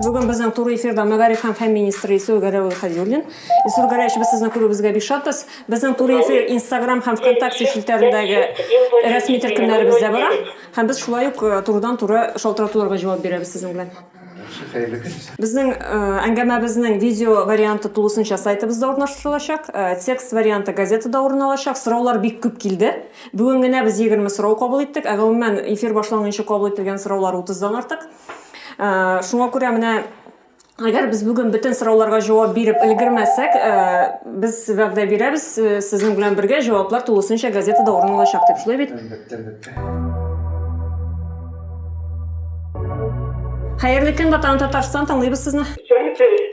Бүген безнең туры эфирда мәгариф һәм фән министры Исүгә Рәүл Хәзюллин. Исүгә Рәш, без сезне күрүебезгә бик шатбыз. Безнең туры эфир Instagram һәм ВКонтакте челтәрендәге рәсми төркемнәребездә бара. Һәм без шулай ук турыдан-туры шалтыратуларга җавап бирәбез сезнең белән. Яхшы, хәерле көн. Безнең әңгәмәбезнең видео варианты тулысынча сайтыбызда урнаштырылачак. Текст варианты газетада урын алачак. Сораулар бик күп килде. Бүген генә без 20 сорау кабул иттек. Ә гомумән эфир башланганчы кабул ителгән сораулар 30-дан артык. Шуңа күрә менә Әгәр без бүген бөтен сорауларга җавап биреп өлгермәсәк, без вәгъдә бирәбез, сезнең белән бергә җаваплар тулысынча газетада урын алачак дип. Шулай бит? Әлбәттә, әлбәттә. Хәерле көн, Ватан Татарстан, тыңлыйбыз сезне.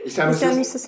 Исәнмесез.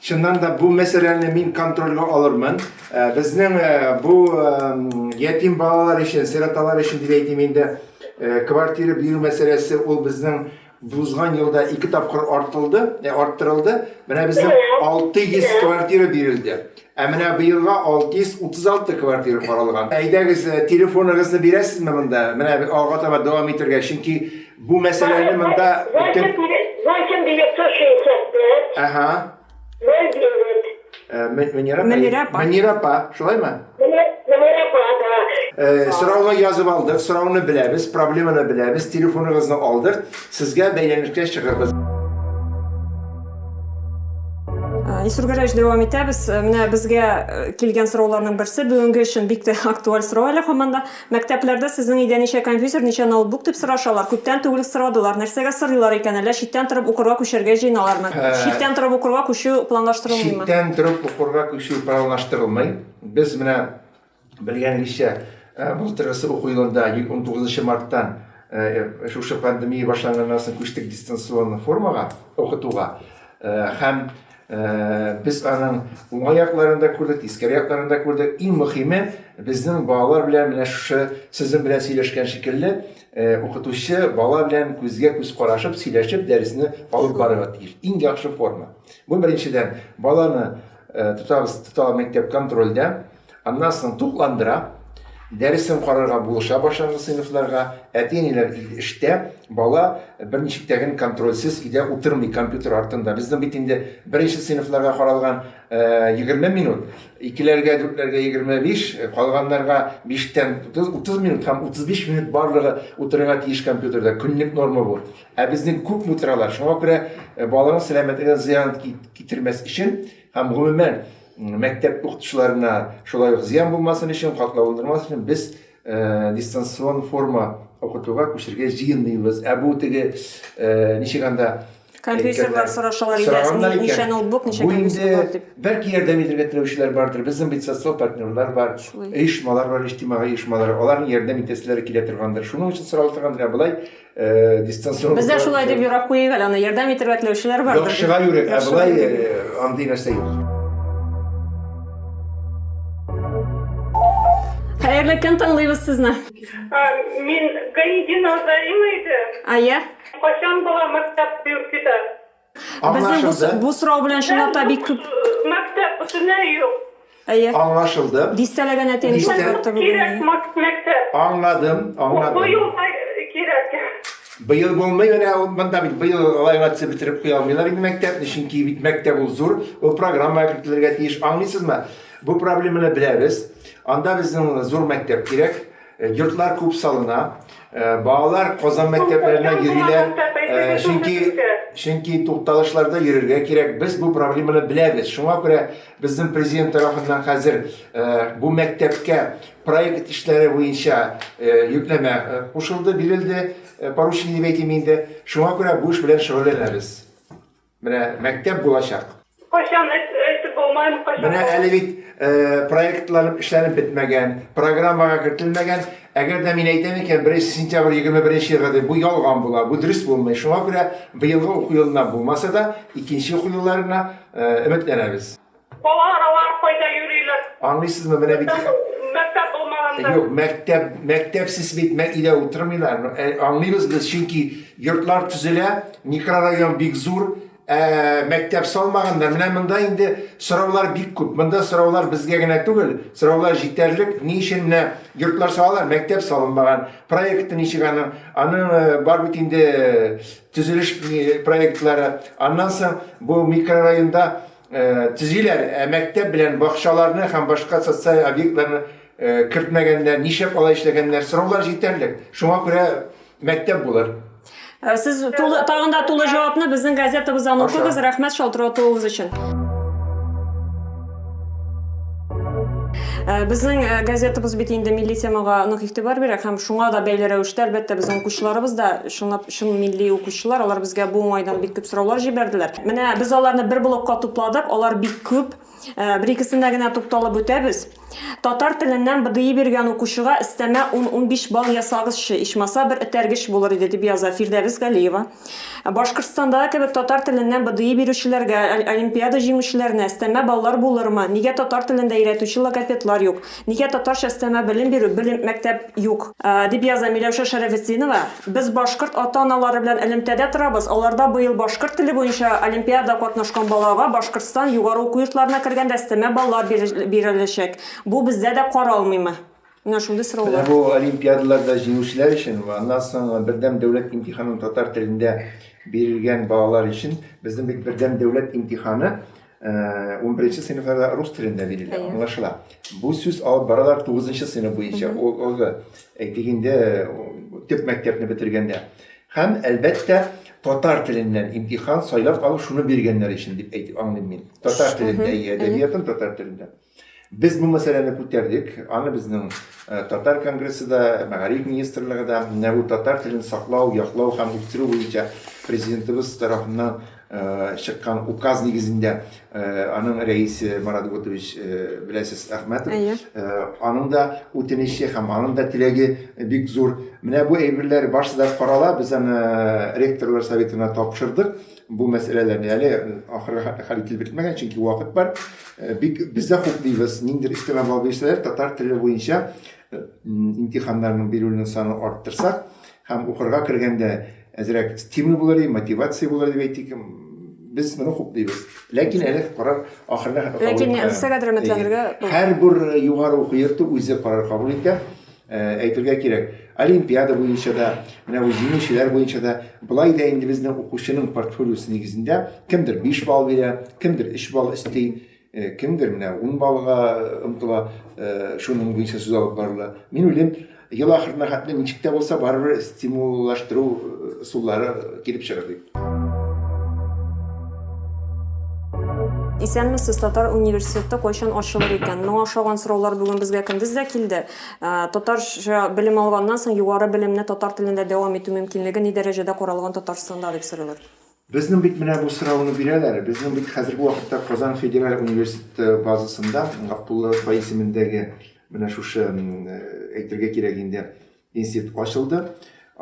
Чыннан да бу мәсьәләне мин контрольгә алырмын. Э, безнең э, бу ятим балалар өчен, сироталар өчен дип әйтим инде, квартира бирү мәсьәләсе ул безнең узган елда ике тапкыр артылды, ә, арттырылды. Менә безнең 600 квартира бирелде. Ә менә быелга 636 квартира каралган. Әйдәгез, телефоныгызны бирәсезме монда? Менә ага таба дәвам итәргә, чөнки Бу мәсьәләне монда бөтен 8965 Әһә. 09 Э, Мө- Мөнирә апа. Мөнирә апа. Мөнирә апа, шулаймы? Мөнирә апа, да. Э, Сорауны язып алдык, сорауны беләбез, проблеманы беләбез, телефоныгызны алдык. Сезгә бәйләнешкә чыгырбыз. Э, Илсур Гәрәевич, дәвам итәбез. Э, Менә безгә э, килгән сорауларның берсе бүгенге өчен бик тә актуаль сорау әле һаман да. Мәктәпләрдә сезнең өйдә ничә компьютер, ничә ноутбук дип сорашалар. Күптән түгел үк сорадылар. Нәрсәгә сорыйлар икән? Әллә читтән торып укырга күчәргә җыеналармы? Читтән торып укырга күчү планлаштырылмыймы? Читтән торып укырга күчү планлаштырылмый. Без менә белгәнегезчә, былтыргысы уку елында, унтугызынчы марттан шушы пандемия башланганнан соң күчтек дистанцион формага, укытуга. Һәм Без аның уңай якларын да күрдек, тискәре якларын да күрдек. Иң мөхиме, безнең балалар белән менә шушы сезнең белән сөйләшкән шикелле, укытучы бала белән күзгә-күз карашып, сөйләшеп дәресне алып барырга тиеш. Иң яхшы форма. Бу беренчедән, баланы тотабыз, тота мәктәп контрольдә. Аннан соң тукландыра, дәресен карарга булыша башлангыч сыйныфларга. Әти-әниләр инде эштә, бала берничек тә генә контрольсез өйдә утырмый компьютер артында. Безнең бит инде беренче сыйныфларга каралган 20 минут, икеләргә, дүртләргә 25, калганнарга биштән 30, 30 минут һәм 35 минут барлыгы утырырга тиеш компьютерда. Көнлек норма бу. Ә безнең күпме утыралар. Шуңа күрә баланың сәламәтлегенә зыян китермәс өчен Һәм гомумән, мәктәп укытучыларына шулай ук зыян булмасын өчен, катлауландырмас өчен без дистанцион форма укытуга күчергә җыенмыйбыз. Ә бу теге ничек анда Компьютерлар сорашалар иде, ничә ноутбук, ничә компьютер бар дип. Бәлки ярдәм итәргә теләүчеләр бардыр. Безнең бит социаль партнерлар бар, оешмалар бар, иҗтимагый оешмалар. Аларның ярдәм итәселәре килә торгандыр. Шуның өчен сорала торгандыр, ә болай Э, дистанцион бездә шулай дип юрап куйыйк әле аны ярдәм итәргә теләүчеләр бар яхшыга юрек ә болай э, андый нәрсә юк Хәерле көн тыңлыйбыз сезне. Мин Гаидин Азарина иде. А я? Кайчан бала мәктәп бюркида? Безнең бу, Аңлашылды. бу сорау белән чынлап та бик күп Мәктәп бөтенләй юк. әйе. Аңлашылды. Дистәләгән әти әнисе Дистә- кайтты бүген. Кирәк әйе. мак- мәктәп. Аңладым, Бу аңладым. елда кирәк. Быел булмый, менә ул монда бит быел алай гына төзеп бетереп куя алмыйлар инде мәктәпне, чөнки бит мәктәп ул зур, ул программага кертелергә тиеш. Аңлыйсызмы? Бу проблеманы беләбез. Анда безнең зур мәктәп кирәк. Йортлар күп салына. Балалар Казан мәктәпләренә йөриләр, чөнки, чөнки тукталышларда йөрергә кирәк. Без бу проблеманы беләбез. Шуңа күрә безнең Президент тарафыннан хәзер бу мәктәпкә проект эшләре буенча йөкләмә кушылды, бирелде, поручение дип әйтим инде. Шуңа күрә бу эш белән шөгыльләнәбез. Менә мәктәп булачак. Кайчан әйтеп булмаем, кайчан. Менә әле бит проектлар эшләнеп бетмәгән, программага кертелмәгән. Әгәр дә мин әйтәм икән, беренче сентябрь, егерме беренче елга дип, бу ялган була, бу дөрес булмый. Шуңа күрә быелгы уку елына булмаса да, икенче уку елларына өметләнәбез. Балалар алар кайда йөриләр? Аңлыйсызмы, менә бит ха. Мәктәп, мәктәп булмаганда. Юк, мәктәп, мәктәпсез бит мә өйдә утырмыйлар. Ну, ә аңлыйбыз без, чөнки йортлар төзелә, микрорайон бик зур, ә мәктәп салмаганнар. Менә монда инде сораулар бик күп. Монда сораулар безгә генә түгел, сораулар җитәрлек, ни өчен менә йортлар салалар, мәктәп салынмаган, проекты ничек аның, аның бар бит инде төзелеш проектлары. Аннан соң бу микрорайонда. Төзиләр, ә мәктәп белән бакчаларны һәм башка социаль объектларны кертмәгәннәр, нишләп алай эшләгәннәр, сораулар җитәрлек. Шуңа күрә мәктәп булыр. Сез тулы, тагын да тулы җавапны безнең газетабыздан укыгыз. Рәхмәт шалтыратуыгыз өчен. Безнең газетабыз бит инде милли темага нык игътибар бирә һәм шуңа да бәйле рәвештә, әлбәттә, безнең укучыларыбыз да чынлап Чын милли укучылар, алар безгә бу уңайдан бик күп сораулар җибәрделәр. Менә без аларны бер блокка тупладык, алар бик күп. Э, бер-икесенә генә тукталып үтәбез. Татар теленнән БДИ биргән укучыга өстәмә 10-15 балл ясагызчы, ичмаса бер этәргеч булыр иде, дип яза Фирдәвес Галиева. Башкортстандагы кебек татар теленнән БДИ бирүчеләргә, олимпиада җиңүчеләренә өстәмә баллар булырмы? Нигә татар телендә өйрәтүче логопедлар юк? Нигә татарча өстәмә белем бирү, белем, мәктәп юк? дип яза Миләүшә Шәрәфетдинова. Без башкорт ата-аналары белән элемтәдә торабыз, аларда быел башкорт теле буенча олимпиада катнашкан балага Башкортстан югары уку йортларына кергәндә өстәмә баллар биреләчәк. Бу бездә дә каралмыймы? Менә шундый сораулар. Менә бу олимпиадаларда җиңүчеләр өчен вә аннан соң бердәм дәүләт имтиханын татар телендә бирелгән балалар өчен, безнең бит бердәм дәүләт имтиханы Э, унберенче сыйныфларда рус телендә бирелә аңлашыла бу сүз алып баралар тугызынчы сыйныф буенча олы әйтегендә төп мәктәпне бетергәндә һәм әлбәттә татар теленнән имтихан сайлап алып шуны биргәннәр өчен дип әйтеп аңлыйм мин татар телендә әдәбиятын татар телендә Без бу мәсьәләне күтәрдек, аны безнең Татар конгрессы да, Мәгариф министрлыгы да, менә бу татар телен саклау, яклау һәм үстерү буенча Президентыбыз тарафыннан чыккан указ нигезендә аның рәисе Марат Готович беләсез Әхмәтов. Аның да үтенече һәм аның да теләге бик зур. Менә бу әйберләр барысы да карала, без аны ректорлар советына тапшырдык. Бу мәсьәләләрне әле ахырга хәл ителеп бетмәгән, чөнки вакыт бар. Бик без дә хуплыйбыз, ниндидер өстәмә балл бирсәләр, татар теле буенча имтиханнарның бирүнең саны арттырсак һәм укырга кергәндә әзрәк стимул булыр иде, мотивация булыр иде дип әйтик, без моны хуплыйбыз. Ләкин әле карар ахырына кабул ителми. Ләкин русчага да рәхмәтләнергә. Һәрбер югары уку йорты үзе карар кабул итә. Ә, әйтергә кирәк, олимпиада буенча да, менә бу җиңүчеләр буенча да, былай да инде безнең укучының портфолиосы нигезендә кемдер 5 балл бирә, кемдер 3 балл өсти, э, кемдер менә 10 баллга омтыла, э, шуның буенча сүз алып барыла. Мин уйлыйм, ел ахырына хәтле ничек тә булса барыбер стимуллаштыру э, ысуллары килеп чыгыр дип. Исәнмесез, татар университеты кайчан ачылыр икән? Моңа ошаган сораулар бүген безгә көндез дә килде. Ә, Татарча белем алганнан соң югары белемне татар телендә дәвам итү мөмкинлеге ни дәрәҗәдә каралган Татарстанда дип сорыйлар. Безнең бит менә бу сорауны бирәләр. Безнең бит хәзерге вакытта Казан федераль университеты базасында Габдулла Тукай исемендәге менә шушы, м, әйтергә кирәк инде, Институт ачылды.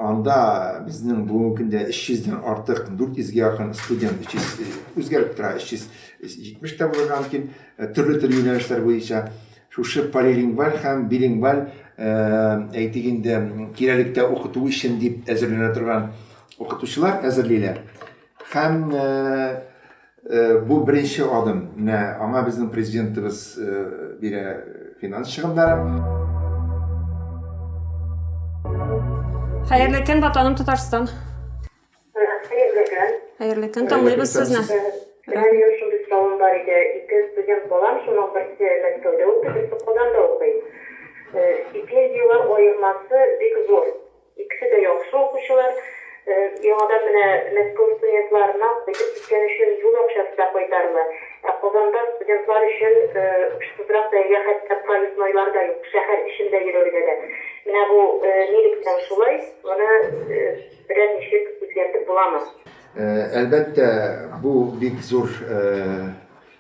Анда безнең бүгенге көндә 300 дән артык, 400 гә якын студент, 300 үзгәреп тора, 370 тә булырга мөмкин, төрле төрле юнәлешләр буенча. Шушы полилингваль һәм билингваль әйтик инде кирәлектә укыту өчен дип әзерләнә торган укытучылар әзерлиләр. Һәм Бу беренче адым. Менә аңа безнең Президентыбыз бирә финанс чыгымнарын. Хәерле көн, Ватаным Татарстан! Хәерле көн! Хәерле көн, тыңлыйбыз сезне. Минем шундый соравым бар иде, ике студент балам, шуның берсе Мәскәүдә укый, берсе Казанда укый. Стипендияләр аермасы бик зур. Икесе дә яхшы укучылар. Яңадан менә Мәскәү студентларына кайтып киткән өчен юл акчасы да кайтарлы. Ә Казанда студентлар өчен очсызрак бәягә хәтта проезднойлар да юк, шәһәр эчендә йөрергә дә. Менә бу нилектән шулай, моны берәр ничек үзгәртеп буламы? Әлбәттә, бу бик зур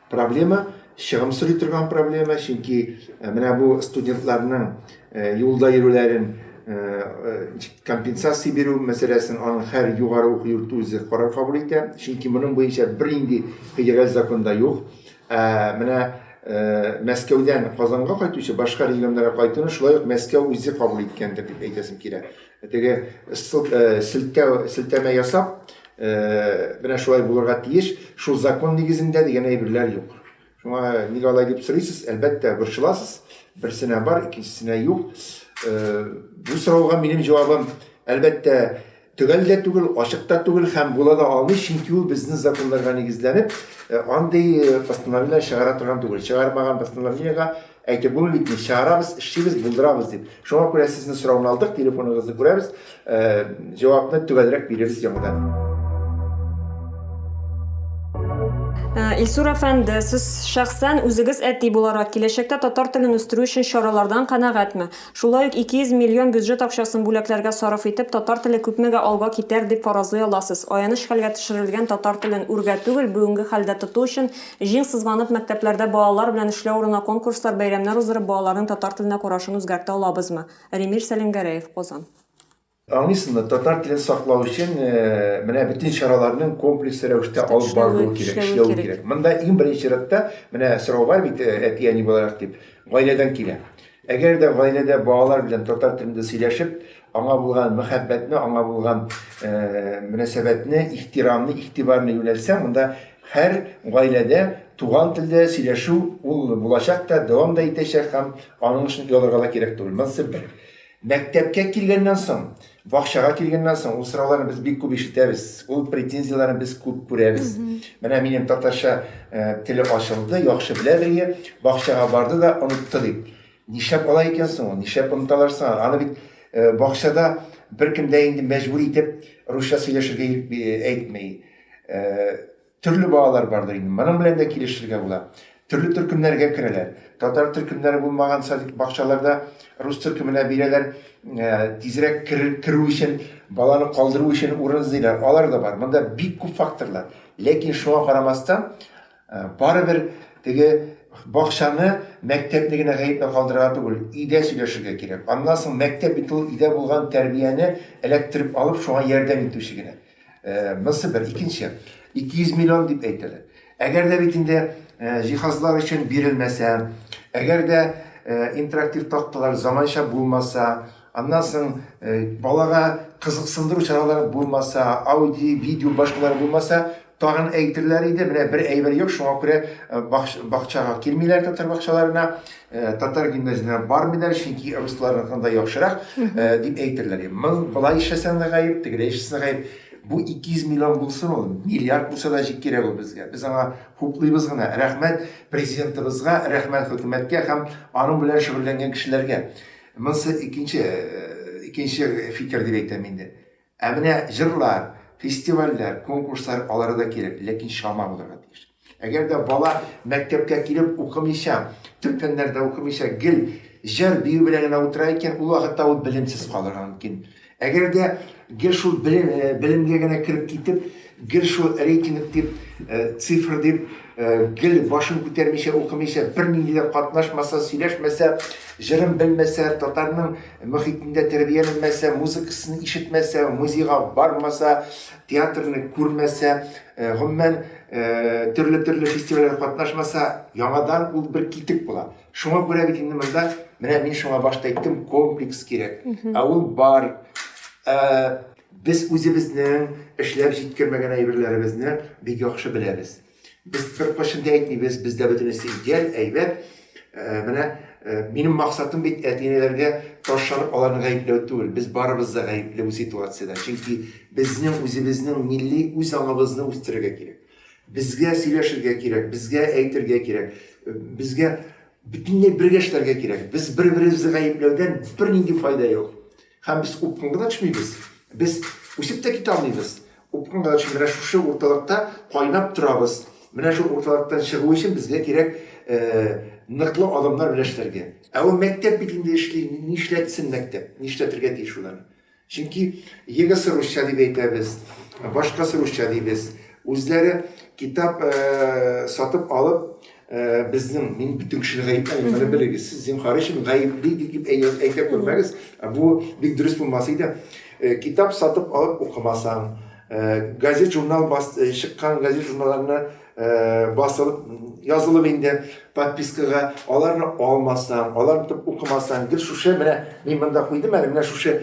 Проблема чыгым сорый торган проблема, чөнки э, менә бу студентларның э, юлда йөрүләрен э, компенсация бирү мәсьәләсен аның һәр югары уку йорты үзе карар кабул итә. Чөнки моның буенча бернинди федераль законда юк. Ә менә Мәскәүдән Казанга кайтучы башка регионнарга кайтуны шулай ук Мәскәү үзе кабул иткәндер дип әйтәсем килә. Теге ссылк э, селтәү селтәмә ясап, э, менә шулай булырга тиеш, шул закон нигезендә дигән әйберләр юк. Шуңа нигә алай дип сорыйсыз? Әлбәттә, борчыласыз. Берсенә бар, икенчесенә юк. Э, бу сорауга минем җавабым, әлбәттә, төгәл дә түгел, ачык та түгел һәм була да алмый, чөнки ул безнең законнарга нигезләнеп, э, андый э, постановление чыгара торган түгел. Чыгармаган постановлениега Әйтеп булмый бит инде, чыгарабыз, эшлибез, булдырабыз дип. Шуңа күрә сезнең сорауны алдык, телефоныгызны күрәбез, җавапны төгәлрәк бирербез яңадан. Илсур әфәнде, сез шәхсән үзегез әти буларак, киләчәктә татар телен үстерү өчен чаралардан канәгатьме? Шулай ук 200 миллион бюджет акчасын бүләкләргә сарыф итеп, татар теле күпмегә алга китәр дип фаразлый аласыз? Аяныч хәлгә төшерелгән татар телен үргә түгел, бүгенге хәлдә тоту өчен Җиң сызганып, мәктәпләрдә балалар белән эшләү урынына конкурслар, бәйрәмнәр уздырып, балаларның татар теленә карашын үзгәртә алабызмы? Римир Сәлимгәрәев, Казан. Аңлыйсызмы, татар телен саклау өчен менә бөтен чараларның комплекслы рәвештә алып барылуы кирәк, эшләве кирәк. Монда иң беренче чиратта, менә сорау бар бит, әти-әни буларак дип, гаиләдән килә. Әгәр дә гаиләдә балалар белән татар телендә сөйләшеп, аңа булган мәхәббәтне, аңа булган мөнәсәбәтне, ихтирамны, игътибарны юнәлтсәң, монда һәр гаиләдә туган телдә сөйләшү ул булачак та, дәвам да итәчәк һәм аның өчен оялырга да кирәк түгел. Монысы бер. Мәктәпкә килгәннән соң Бакчага килгәннән соң ул сорауларны без бик күп ишетәбез, ул претензияләрне без күп күрәбез. Менә минем татарча э, теле ачылды, яхшы белә бергә, бакчага барды да онытты дип. Нишләп алай икән соң ул? Нишләп оныталар соң? Аны бит э, бакчада беркем дә инде мәҗбүр итеп русча сөйләшергә э, әйтми. Э, Төрле балалар бардыр инде, моның белән дә килешергә була. Төрле төркемнәргә керәләр. Татар төркемнәре булмаган садик, бакчаларда рус төркеменә бирәләр, тизрәк керер, керү өчен, баланы калдыру өчен урын эзлиләр, алар да бар. Монда бик күп факторлар. Ләкин шуңа карамастан, барыбер теге бакчаны, мәктәпне генә гаепләп калдырырга түгел, өйдә сөйләшергә кирәк. Аннан соң мәктәп бит ул өйдә булган тәрбияне эләктереп алып, шуңа ярдәм итүче генә. Монсы бер. Икенче, 200 миллион дип әйтәләр. Әгәр дә бит инде җиһазлар өчен бирелмәсә, әгәр дә интерактив такталар заманча булмаса, аннан соң балага кызыксындыру чаралары булмаса, аудио, видео башкалар булмаса, тагын әйтерләр иде, менә бер әйбер юк, шуңа күрә бакчага килмиләр татар бакчаларына. Татар гимназияләренә бармыйлар, чөнки русларныкы да яхшырак, дип әйтерләр. Моң болай эшләсәң дә гаеп, тегеләй эшләсәң дә гаеп. Бу 200 миллион булсын ул, миллиард булса да җик кирәк ул безгә. Без аңа хуплыйбыз гына. Рәхмәт Президентыбызга, рәхмәт хөкүмәткә һәм аның белән шөгыльләнгән кешеләргә. Монсы икенче, икенче фикер дип әйтәм инде. Ә менә җырлар, фестивальләр, конкурслар алары да кирәк, ләкин чама булырга тиеш. Әгәр дә бала мәктәпкә килеп укымыйча, төп фәннәрдә укымыйча, гел җыр бию белән генә утыра икән, ул вакытта ул белемсез калырга мөмкин. Әгәр дә гел шул белем, белемгә генә кереп китеп, Гел шул рейтинг дип, цифр дип, гел башын күтәрмичә, укымыйча, бернинди дә катнашмаса, сөйләшмәсә, җырын белмәсә, татарның мохитендә тәрбияләнмәсә, музыкасын ишетмәсә, музейга бармаса, театрны күрмәсә, гомумән, төрле-төрле фестивальгә катнашмаса, яңадан ул бер китек була. Шуңа күрә бит инде монда, менә мин шуңа башта әйттем, комплекс кирәк. Ә ул бар. Без үзебезнең эшләп җиткермәгән әйберләребезне бик яхшы беләбез. Без беркайчан да әйтмибез, бездә бөтенесе идеаль, әйбәт. Менә минем максатым бит әти-әниләргә таш чанып аларны гаепләү түгел. Без барыбыз да гаепле бу ситуациядә. Чөнки безнең үзебезнең милли үз аңыбызны үстерергә кирәк. Безгә сөйләшергә кирәк, безгә әйтергә кирәк, безгә бөтенләй бергә эшләргә кирәк. Без бер-беребезне гаепләүдән бернинди файда юк. Һәм без упкынга да төшмибез, без үсеп тә китә алмыйбыз. Упкынга да төшмибез, менә шушы урталыкта кайнап торабыз. Менә шул урталыктан чыгу өчен безгә кирәк ныклы адымнар белән эшләргә. Ә ул мәктәп бит инде эшли, нишләтсен мәктәп, нишләтергә тиеш ул аны. Чөнки егысы русча дип әйтәбез, башкасы русча дибез. Үзләре китап сатып алып, Ә, безнең, мин бөтен кешене гаепләмим, моны белегез. Сез зинһар өчен гаепли дип әйтә күрмәгез. Ә бу бик дөрес булмас иде. Э, китап сатып алып укымасаң, э, газет журнал бас, э, чыккан газет журналларны басылып язылып инде подпискага аларны алмасаң аларны тотып укымасаң гел шушы менә мин монда куйдым әле менә шушы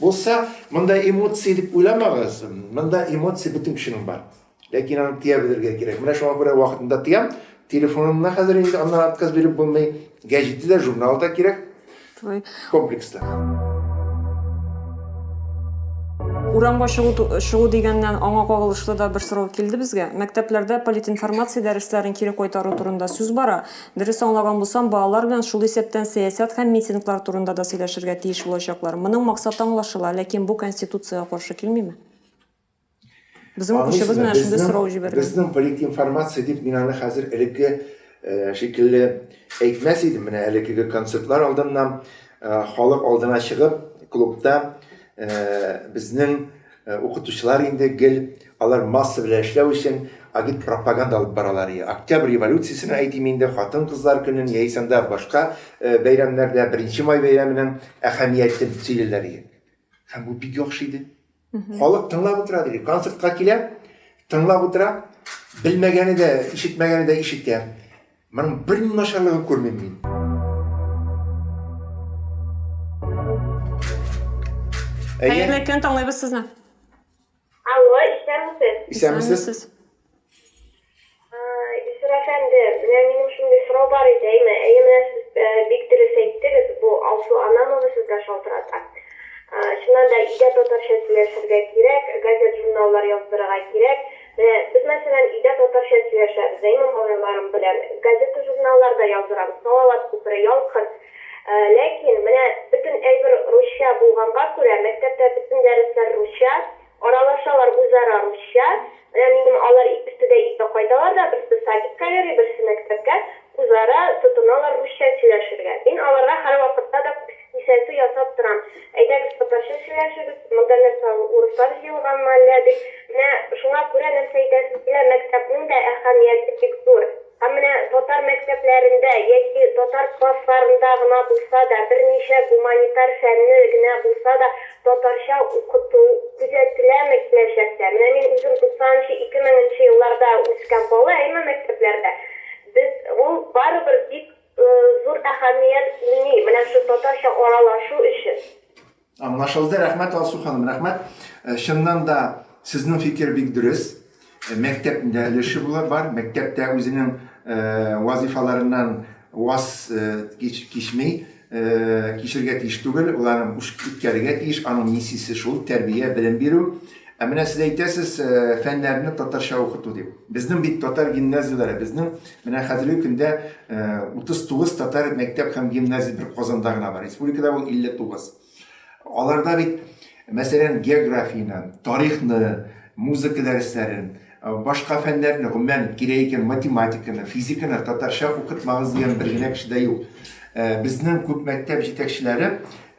Булса, монда эмоции дип уйламагыз. Монда эмоция бөтен кешенең бар. Ләкин аны тыя белергә кирәк. Менә шуңа күрә вакытында тыям. Телефонымны хәзер инде аннан отказ биреп булмый. Гәҗите дә, журнал да кирәк. Комплекста. Урамга чыгу, чыгу дигәннән аңа кагылышлы да бер сорау килде безгә. Мәктәпләрдә политинформация дәресләрен кире кайтару турында сүз бара. Дөрес аңлаган булсам, балалар белән шул исәптән сәясәт һәм митинглар турында да сөйләшергә тиеш булачаклар. Моның максаты аңлашыла, ләкин бу Конституциягә каршы килмиме? Безнең укучыбыз менә шундый сорау җибәргән. Безнең политинформация дип мин аны хәзер элекке шикелле әйтмәс идем. Менә элеккеге концертлар алдыннан халык алдына чыгып, клубта безнең Укытучылар инде гел алар масса белән эшләү өчен агитпропаганда алып баралар и Октябрь революциясенең, әйтим инде, хатын-кызлар көнен яисә анда башка бәйрәмнәрдә Беренче май бәйрәменең әһәмиятен сөйлиләр и Һәм бу бик яхшы иде. Халык тыңлап утыра диде. Концертка килә, тыңлап утыра, белмәгәне дә, ишетмәгәне дә ишетә. Моның бер ни начарлыгы күрмим мин. Хәерле көн, тыңлыйбыз сезне. Алло, исәнмесез? Исәнмесез. Исер әфәнде, менә минем шундый сорау бар иде, әйме, әйе, менә сез э, бик дөрес әйттегез, бу Алсу Анамова сезгә шалтырата. Чыннан да, өйдә татарча сөйләшергә кирәк, газет-журналлар яздырырга кирәк. Менә без, мәсәлән, өйдә татарча сөйләшәбез, ә имам малайларым белән газета-журналларда яздырабыз, Салават күпере, Ял кырт. Ләкин, менә бөтен әйбер русча булганга күрә, мәктәптә бөтен дәресләр русча, аралашалар үзара русча. Менә минем алар икесе дә өйгә кайталар да, берсе садикка йөри, берсе мәктәпкә, үзара тотыналар русча сөйләшергә. Мин аларга һәрвакытта да күз. Кисәтү ясап торам. Әйдәгез, татарча сөйләшегез, монда нәрсә ул, урыслар җыелганмы әллә дип. Менә шуңа күрә нәрсә әйтәсез, менә мәктәпнең дә әһәмияте бик зур. Һәм менә татар мәктәпләрендә яки татар классларында гына булса да, берничә гуманитар фәнне генә булса да татарча укыту күзәтеләме киләчәктә? Менә мин үзем туксанынчы, ике меңенче елларда үскән бала, әйме мәктәпләрдә без ул барыбер бик Зур әһәмият уйный менә шу татарча аралашу өчен. Аңлашылды, рәхмәт Алсу ханым, рәхмәт. Чыннан да сезнең фикер бик дөрес. Мәктәпнең дә өлеше була, бар. Мәктәп тә үзенең вазыйфаларыннан ваз кич, кичми, кичергә тиеш түгел, ул аны үш үткәрергә тиеш, аның миссиясе шул, тәрбия, белем бирү. Ә менә сез әйтәсез, фәннәрне татарча укыту дип. Безнең бит татар гимназияләре, безнең менә хәзерге көндә 39 татар мәктәп һәм гимназия бер Казанда гына бар. Республикада ул 59. Аларда бит, мәсәлән, географияне, тарихны, музыка дәресләрен, башка фәннәрне, гомумән, кирәк икән, математиканы, физиканы татарча укытмагыз дигән бер генә кеше дә юк. Безнең күп мәктәп җитәкчеләре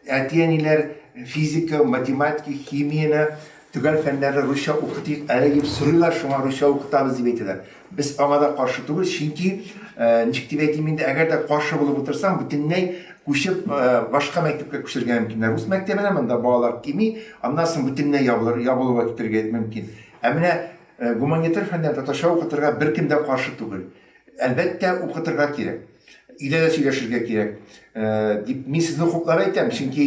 Әти-әниләр физика, математика, химияне, төгәл фәннәрне русча укытыйк әле дип сорыйлар, шуңа русча укытабыз дип әйтәләр. Без аңа да каршы түгел, чөнки, ничек дип әйтим инде, әгәр дә каршы булып утырсаң, бөтенләй күчеп, башка мәктәпкә күчерергә мөмкин. Ә рус мәктәбенә монда балалар кими, аннан соң бөтенләй ябылыр, ябылуга китерергә мөмкин. Ә менә гуманитар фәннәрне татарча укытырга беркем дә каршы түгел. Әлбәттә, укытырга кирәк. Өйдә дә сөйләшергә кирәк. Дип, мин сезне хуплап әйтәм, чөнки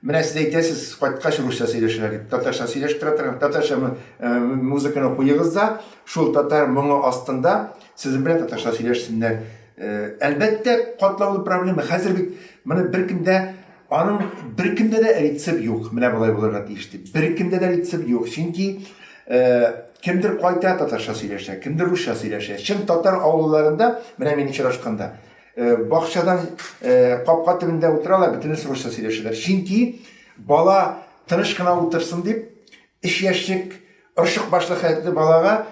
менә сез әйтәсез, кайткач русча сөйләшәләр дип. Татарча сөйләшеп тора торган, татарча музыканы куегыз да, шул татар моңы астында сезнең белән татарча сөйләшсеннәр. Әлбәттә, катлаулы проблема. Хәзер бит моны беркем дә Аның беркемдә дә рецепт юк, менә болай булырга тиеш дип. Беркемдә дә рецепт юк, чөнки кемдер кайта татарча сөйләшә, кемдер русча сөйләшә. Чын татар авылларында, менә мин очрашканда, бакчадан капка төбендә утыралар, бөтенесе русча сөйләшәләр. Чөнки бала тыныч кына утырсын дип, Өч яшьлек орчык башлы хәтле балага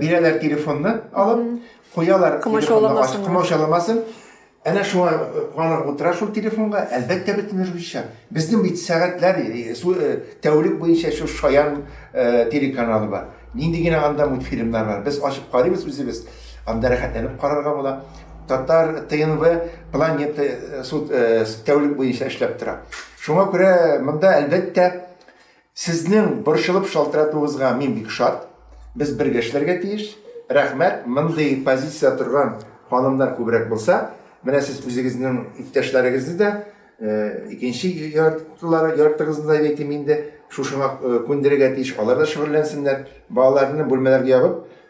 бирәләр телефонны алып, куялар телефонны ачып, комачауламасын. Әнә шуңа куанып утыра шул телефонга, әлбәттә бөтен русча. Безнең бит сәгатьләр, тәүлек буенча шул Шаян телеканалы бар. Нинди генә анда мультфильмнар бар. Без ачып карыйбыз үзебез. Анда рәхәтләнеп карарга була. Татар ТНВ планета тәүлек буенча эшләп тора. Шуңа күрә монда әлбәттә Сезнең борчылып шалтыратуыгызга мин бик шат. Без бергә эшләргә тиеш. Рәхмәт, мондый позициядә торган ханымнар күбрәк булса. Менә сез үзегезнең иптәшләрегезне дә, икенче яртылары, яртыгызны да дип әйтим инде, шушыңа күндерергә тиеш, алар да шөгыльләнсеннәр. Балаларны бүлмәләргә ябып,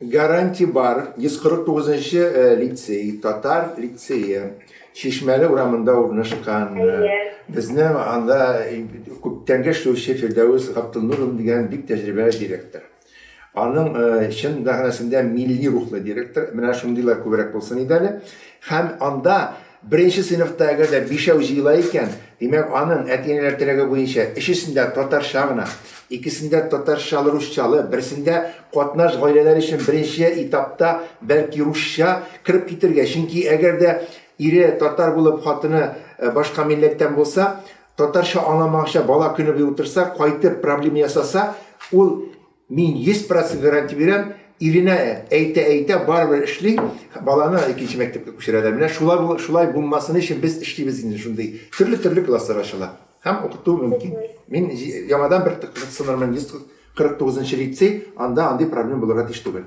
Гарантия бар, 149 нчы лицей, татар лицее, Чишмәле урамында урнашкан. Безнең анда күптәнге эшләүче Фирдәвес Габдуллур дигән бик тәҗрибәле директор. Аның чын мәгънәсендә милли рухлы директор, менә шундыйлар күбрәк булсын иде әле. Һәм анда Беренче сыйныфта әгәр дә бишәү җыела икән, димәк, аның, әти-әниләр теләге буенча, өчесендә татарча гына, икесендә татарчалы-русчалы, берсендә катнаш гаиләләр өчен беренче этапта, бәлки, русча кереп китергә, чөнки әгәр дә ире татар булып, хатыны башка милләттән булса, татарча аңламаганча бала көнебуе утырса, кайтып проблема ясаса, ул Мин 100 процент гарантия бирәм, Ирина әйтә-әйтә барыбер эшли, баланы икенче мәктәпкә күчерәләр. Менә шулай шулай булмасын өчен без эшлибез инде шундый. Төрле-төрле класслар ачыла һәм укыту мөмкин. Мин яңадан бер кызыксынырмын, 149 нчы лицей, анда андый проблема булырга тиеш түгел.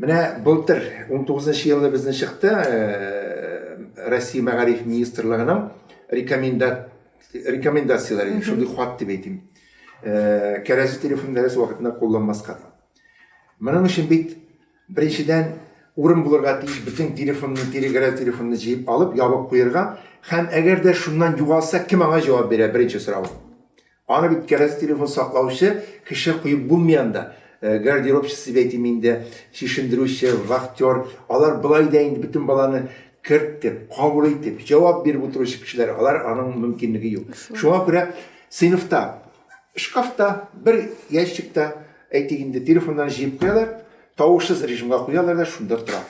Менә былтыр, унтугызынчы елны безнең чыкты, Россия мәгариф министрлыгының рекомендацияләре, шундый хат дип әйтим. Кәрәзле телефон дәрес вакытында кулланмаска дип. Моның өчен бит беренчедән урын булырга тиеш, бөтен телефонны, кәрәзле телефонны җыеп алып, ябып куерга һәм әгәр дә шуннан югалса, кем аңа җавап бирә, беренче сорау. Аны бит кәрәзә телефон саклаучы кеше куеп булмый анда. Гардеробчы дип әйтим инде, чишендерүче, вахтер, алар болай да инде бөтен баланы кертеп, кабул итеп, җавап биреп утыручы кешеләр, алар аның мөмкинлеге юк. Шуңа күрә сыйныфта, шкафта, бер ящикта, әйтик инде, телефоннарны җыеп куялар, тавышсыз режимга куялар да шунда тора.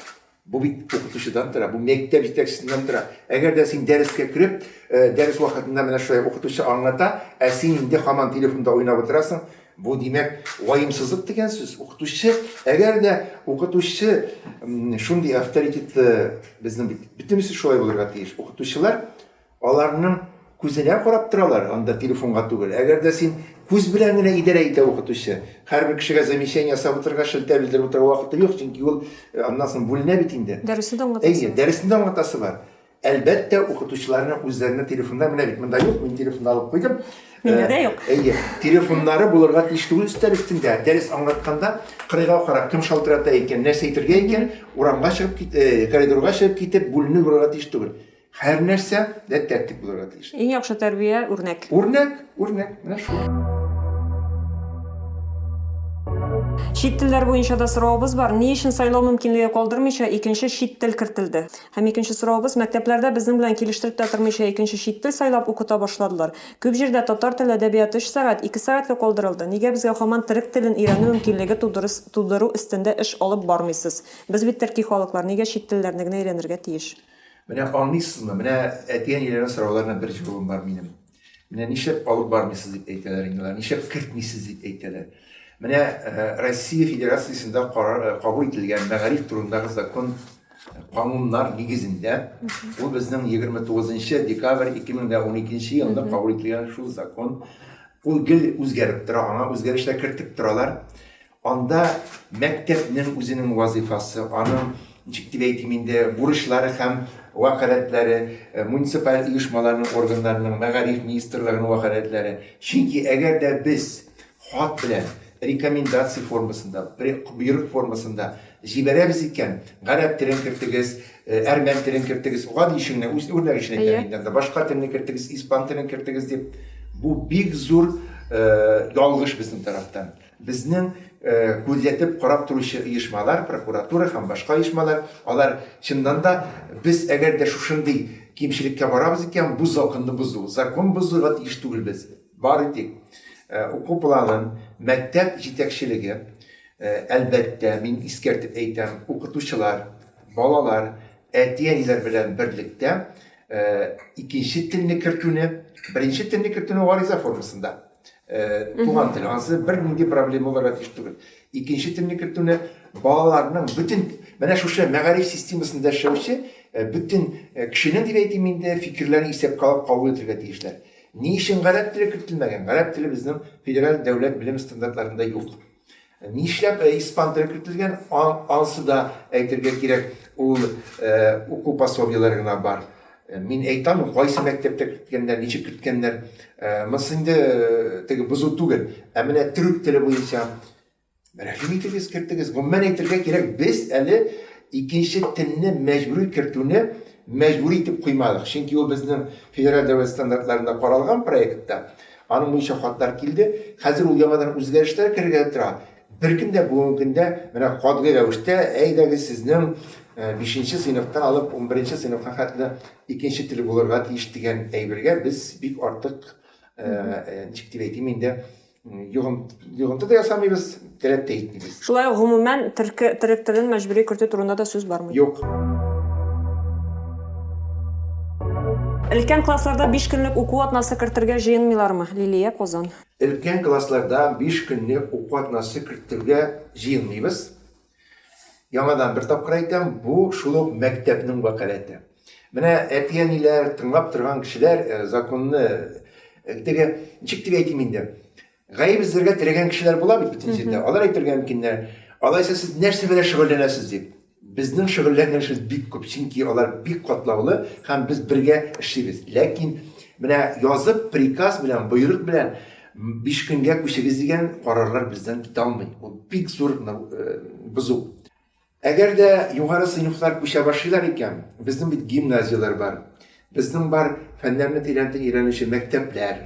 Бу бит укытучыдан тора, бу мәктәп җитәкчесеннән тора. Әгәр дә син дәрескә кереп, дәрес вакытында менә шулай укытучы аңлата, ә син инде һаман телефонда уйнап утырасың, бу димәк ваемсызлык дигән сүз. Укытучы, әгәр дә укытучы шундый авторитетлы, безнең бит бөтенесе шулай булырга тиеш. Укытучылар Аларның күзенә карап торалар, анда телефонга түгел. Әгәр дә син күз белән генә идарә итә укытучы. Һәрбер кешегә замечание ясап утырырга, шелтә белдереп утырырга вакыты юк, чөнки ул аннан соң бүленә бит инде. Дәресне дә аңлатасы бар. Әйе, дәресне дә аңлатасы бар. Әлбәттә, укытучыларның үзләренең телефоннары, менә бит монда юк, мин телефонны алып куйдым. Миндә дә юк. Әйе, телефоннары булырга тиеш түгел өстәл өстендә. Дәрес аңлатканда кырыйга карап, кем шалтырата икән, нәрсә әйтергә икән, урамга чыгып, коридорга чыгып китеп, бүленеп барырга тиеш түгел. Һәрнәрсә дә тәртип булырга тиеш. Иң яхшы тәрбия, үрнәк. Үрнәк, үрнәк, менә шул. Чит телләр буенча да соравыбыз бар, ни өчен сайлау мөмкинлеге калдырмыйча икенче чит тел кертелде? Һәм икенче соравыбыз, мәктәпләрдә безнең белән килештереп тә тормыйча икенче чит тел сайлап укыта башладылар. Күп җирдә татар теле әдәбияты өч сәгать, ике сәгатькә калдырылды, нигә безгә һаман терек телен өйрәнү мөмкинлеге тудырыс тудыру өстендә эш алып бармыйсыз? Без бит терки халыклар, нигә чит телләрне генә өйрәнергә тиеш? Менә аңлыйсызмы? Менә әти-әниләрнең сорауларына бер җавабым бар минем. Менә нишләп алып бармыйсыз дип әйтәләр инде алар, нишләп кертмисез дип әйтәләр. Менә э, Россия Федерациясендә карар э, кабул ителгән мәгариф турындагы закон э, кануннар нигезендә ул безнең 29 декабрь 2012 елында кабул ителгән шул закон ул гел үзгәреп тора, аңа үзгәрешләр кертеп торалар. Анда мәктәпнең үзенең вазыйфасы, аның, ничек дип әйтим инде, бурычлары һәм вәкаләтләре, муниципаль оешмаларның органнарының, мәгариф министрлыгының вәкаләтләре. Чөнки әгәр дә без хат белән, рекомендация формасында, боерык формасында җибәрәбез икән, гарәп телен кертегез, әрмән телен кертегез, гади өчен генә, үз үрнәк өчен әйтәм инде анда, башка телне кертегез, испан телен кертегез дип, бу бик зур ялгыш безнең тарафтан. Безнең күзәтеп карап торучы оешмалар, прокуратура һәм башка оешмалар, алар, чыннан да, без әгәр дә шушындый кимчелеккә барабыз икән, бу законны бозу, закон бозуга тиеш түгел без. Бары тик уку планын, мәктәп җитәкчелеге, әлбәттә, мин искәртеп әйтәм, укытучылар, балалар, әти-әниләр белән берлектә икенче телне кертүне, беренче телне кертүне гариза формасында, Туган тел, ансы бер нинди проблема булырга тиеш түгел. Икенче телне кертүне балаларның бүтән менә шушы мәгариф системасында эшләүче бүтән кешенең дип әйтим инде фикерләрен исәпкә алып кабул итәргә тиешләр. Ни өчен гарәп теле кертелмәгән? Гарәп теле безнең федераль дәүләт белем стандартларында юк. Нишләп испан теле кертелгән, ансы да әйтергә кирәк, ул уку пособиеләре генә бар. Мин әйтә алмыйм, кайсы мәктәптә керткәннәр, ничек керткәннәр. Монсы инде теге бозу түгел. Ә менә төрек теле буенча, рәхим итегез, кертегез. Гомумән әйтергә кирәк, без әле икенче телне мәҗбүри кертүне мәҗбүри итеп куймадык. Чөнки ул безнең федераль дәүләт стандартларында каралган проектта, Аның буенча хатлар килде. Хәзер ул яңадан үзгәрешләр кергәли тора. Беркем дә бүгенге көндә менә катгый рәвештә, әйдәгез сезнең бишенче сыйныфтан алып унберенче сыйныфка хәтле икенче тел булырга тиеш дигән әйбергә без бик артык, ничек дип әйтим инде, йогынты да ясамыйбыз. Теләп тә итмибез. Шулай ук гомумән төрке, төрек телен мәҗбүри кертү турында да сүз бармый. Юк. Өлкән классларда биш көнлек уку атнасы кертергә җыенмыйлармы? Лилия, Казан. Өлкән классларда биш көнлек уку атнасы кертергә җыенмыйбыз. Яңадан бер тапкыр әйтәм, бу шул ук мәктәпнең вәкаләте. Менә әти-әниләр, тыңлап торган кешеләр, законны теге, ничек дип әйтим инде, Гаеп эзләргә теләгән кешеләр була бит бөтен җирдә. Алар әйтергә мөмкиннәр, Алайса сез нәрсә белән шөгыльләнәсез? дип. Безнең шөгыльләнгәнебез бик күп, чөнки алар бик катлаулы һәм без бергә эшлибез. Ләкин менә язып, приказ белән, боерык белән биш көнгә күчегез дигән карарлар бездән китә алмый. Ул бик зур бозу. Әгәр дә югары сыйныфлар күчә башлыйлар икән, безнең бит гимназияләр бар, безнең бар фәннәрне тирәнтен өйрәнүче мәктәпләр,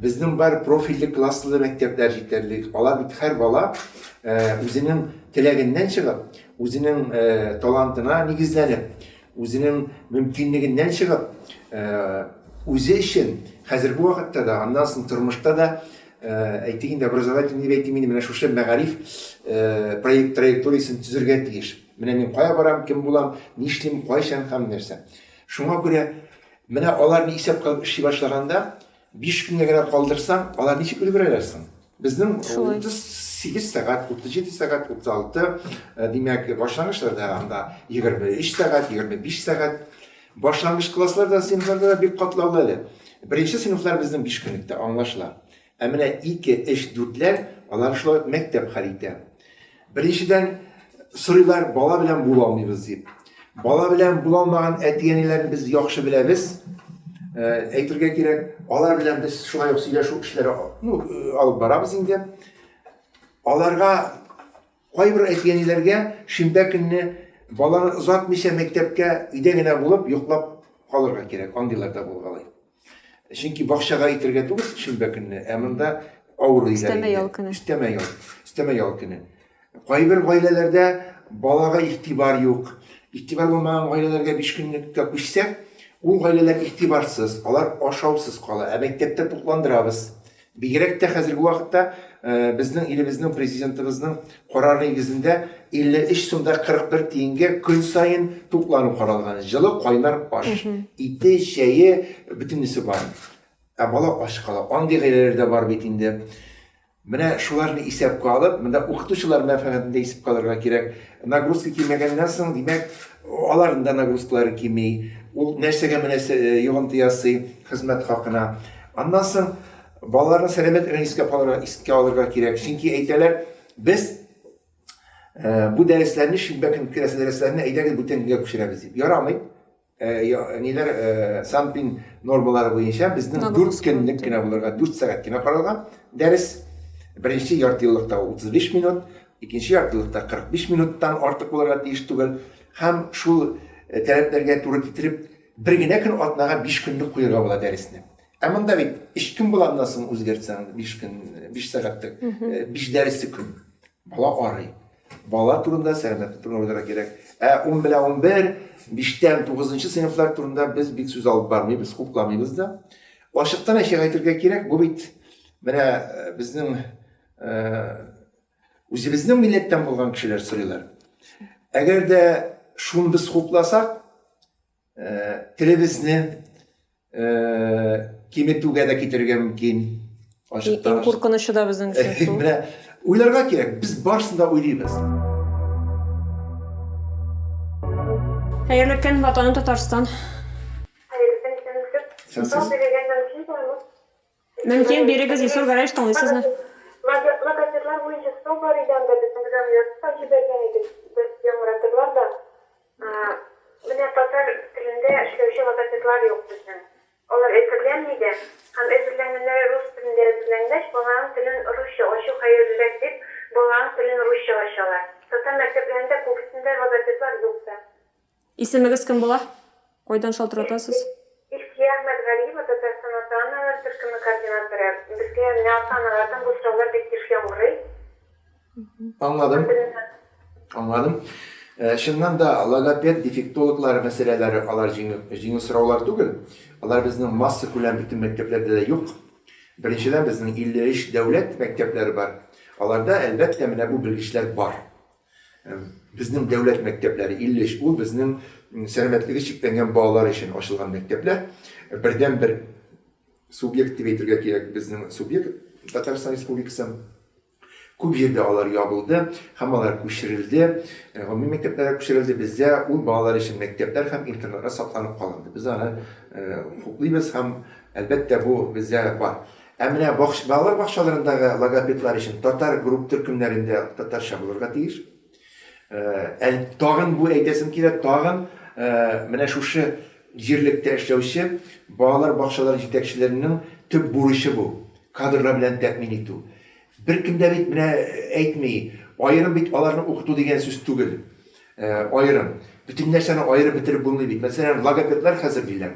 безнең бар профильле класслы мәктәпләр җитәрлек. Алар бит һәр бала үзенең теләгеннән чыгып, үзенең талантына нигезләнеп, үзенең мөмкинлегеннән чыгып, үзе өчен хәзерге вакытта да, аннан соң тормышта да Әйтик инде, образовательный дип әйтим инде, менә шушы мәгариф проект траекториясен төзергә тиеш. Менә мин кая барам, кем булам, нишлим, кайчан һәм нәрсә. Шуңа күрә менә аларны исәпкә алып эшли башлаганда, биш көнгә генә калдырсаң, алар ничек өлгерәләр соң? Безнең 38 сәгать, 37 сәгать, 36, димәк, башлангычларда анда 23 сәгать, 25 сәгать. Башлангыч класслар да, сыйныфларда да бик катлаулы әле. Беренче сыйныфлар безнең биш көнлектә, аңлашыла. Ә менә ике, өч, дүртләр, алар шулай ук мәктәп хәл итә. Беренчедән, сорыйлар, бала белән була алмыйбыз дип. Бала белән була алмаган әти-әниләрне без яхшы беләбез. Әйтергә кирәк, алар белән без шулай ук сөйләшү эшләре ну, алып барабыз инде. Аларга Кайбер әтиәниләргә шимбә көнне баланы озатмыйча мәктәпкә өйдә генә булып йоклап калырга кирәк, андыйлар да булгалый. Чөнки бакчага итергә түгел шимбә көнне, ә монда авыру өйләр инде. Өстәмә ял көне. Өстәмә ял, өстәмә ял көне. Кайбер гаиләләрдә балага игътибар юк. Игътибар булмаган гаиләләргә биш көнлеккә күчсәк, ул гаиләләр игътибарсыз, алар ашаусыз кала, ә мәктәптә тукландырабыз. Бигрәк тә хәзерге вакытта безнең илебезнең Президентыбызның карары нигезендә 53 сум да 41 тиенгә көн саен туклану каралган. Җылы кайнар аш, ите, чәе, бөтенесе бар. Ә бала ач кала. Андый гаиләләр дә бар бит инде. Менә шуларны исәпкә алып, монда укытучылар мәнфәгатен дә исәпкә алырга кирәк. Нагрузка кимегәннән соң, димәк, аларның да нагрузкалары кими. Ул нәрсәгә мөнәсәбәт йогынты ясый хезмәт хакына. Аннан соң балаларның сәламәтлеген искә алырга, искә алырга кирәк. Чөнки әйтәләр, без ә, бу дәресләрне шимбә көн керәсе дәресләрне әйдәгез бүтән көнгә күчерәбез дип. Ярамый. Ә, я, ниләр ә, Санпин нормалары буенча безнең 4 көнлек кенә булырга 4 сәгать кенә каралган дәрес. Беренче ярты еллыкта 35 минут, икенче ярты еллыкта 45 минуттан артык булырга тиеш түгел. Һәм шул э, таләпләргә туры китереп Бер генә көн атнага биш көнлек куерга була дәресне. Ә монда бит өч көн була аннан соң үзгәртсәң, биш көн, биш сәгатьлек, биш дәресе көн. Бала арый. Бала турында, сәламәтлек турында уйларга кирәк. Ә ун белән ун бер, биштән тугызынчы сыйныфлар турында без бик сүз алып бармыйбыз, хупламыйбыз да. Ачыктан әчек әйтергә кирәк, бу бит менә безнең Үзебезнең милләттән булган кешеләр сорыйлар. Әгәр дә шуны без хупласак, телебезне киметүгә дә китерергә мөмкин. Ачыктан. Иң куркынычы да безнең өчен шул. Менә уйларга кирәк, без барысын да уйлыйбыз. Хәерле көн, Ватаным Татарстан. Хәерле көн, Сәләтлек. Сау сөйләгәннән соң Мөмкин, бирегез Илсур Гәрәевич тыңлый сезне. Логопедлар буенча сынау бар иде анда безнең җан язып җибәргән иде без яңратырлар да менә татар телендә эшләүче логопедлар юк безнең алар әзерләнми дә һәм әзерләнгәннәре рус телендә әзерләнгәч баланың телен русча ачу хәерлерәк дип баланың телен русча ачалар татар мәктәпләрендә күбесендә логопедлар юк та. Исемегез кем була? Кайдан шалтыратасыз? Илсөя Әхмәтгалиева, Татарстан ата-аналар төркеме координаторы. Безгә менә ата-аналардан бу сораулар бик еш яңгырый. Аңладым. Аңладым. Чыннан да, логопед, дефектологлар мәсьәләләре алар җиңел сораулар түгел. Алар безнең массакүләм бөтен мәктәпләрдә дә юк. Беренчедән, безнең 53 дәүләт мәктәпләре бар. Аларда, әлбәттә, менә бу белгечләр бар. Безнең дәүләт мәктәпләре 53, ул безнең сәламәтлеге чикләнгән балалар өчен ачылган мәктәпләр. Бердәнбер субъект дип әйтергә кирәк, безнең субъект Татарстан Республикасы. Күп җирдә алар ябылды һәм алар күчерелде, гомуми мәктәпләргә күчерелде. Бездә ул балалар өчен мәктәпләр һәм интернатлар сакланып калынды. Без аны хуплыйбыз һәм, әлбәттә, бу бездә бар. Ә менә бакч, балалар бакчаларындагы логопедлар өчен татар групп төркемнәрендә татарча булырга тиеш. Ә, тагын бу әйтәсем килә, тагын менә шушы җирлектә эшләүче балалар бакчалары җитәкчеләренең төп бурычы бу, кадрлар белән тәэмин итү. Беркем дә бит менә әйтми, аерым бит аларны укыту дигән сүз түгел. Аерым. Бөтен нәрсәне аерып бетереп булмый бит. Мәсәлән, логопедлар хәзер диләр.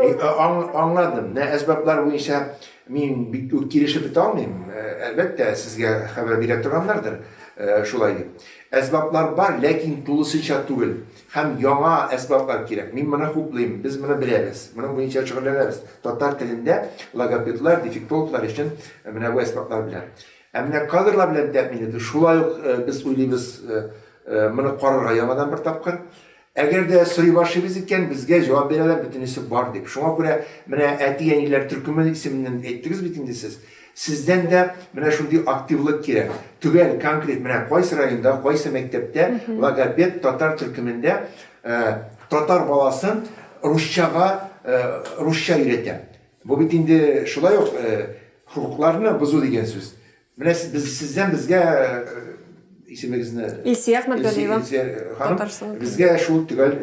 Аңладым. Менә әсбаплар буенча мин бик үк килешеп бетә алмыйм. Әлбәттә, сезгә хәбәр бирә торганнардыр шулай дип. Әсбаплар бар, ләкин тулысынча түгел. Һәм яңа әсбаплар кирәк. Мин моны хуплыйм. Без моны беләбез. Моның буенча шөгыльләнәбез. Татар телендә логопедлар, дефектологлар өчен менә бу әсбаплар белән. Ә менә кадрлар белән тәэмин итү шулай ук без уйлыйбыз моны карарга яңадан бер тапкыр. Әгәр дә сорый башлыйбыз икән, безгә җавап бирәләр, бөтенесе бар дип. Шуңа күрә менә әти-әниләр төркеме исеменнән әйттегез бит инде сез. Сездән дә менә шундый активлык кирәк. Төгәл, конкрет, менә кайсы районда, кайсы мәктәптә логопед татар төркемендә татар баласын русчага русча өйрәтә. Бу бит инде шулай ук хокукларны бозу дигән сүз. Менә без сездән безгә исемегезне Илсия Әхмәтгалиева Татарстан безгә шул төгәл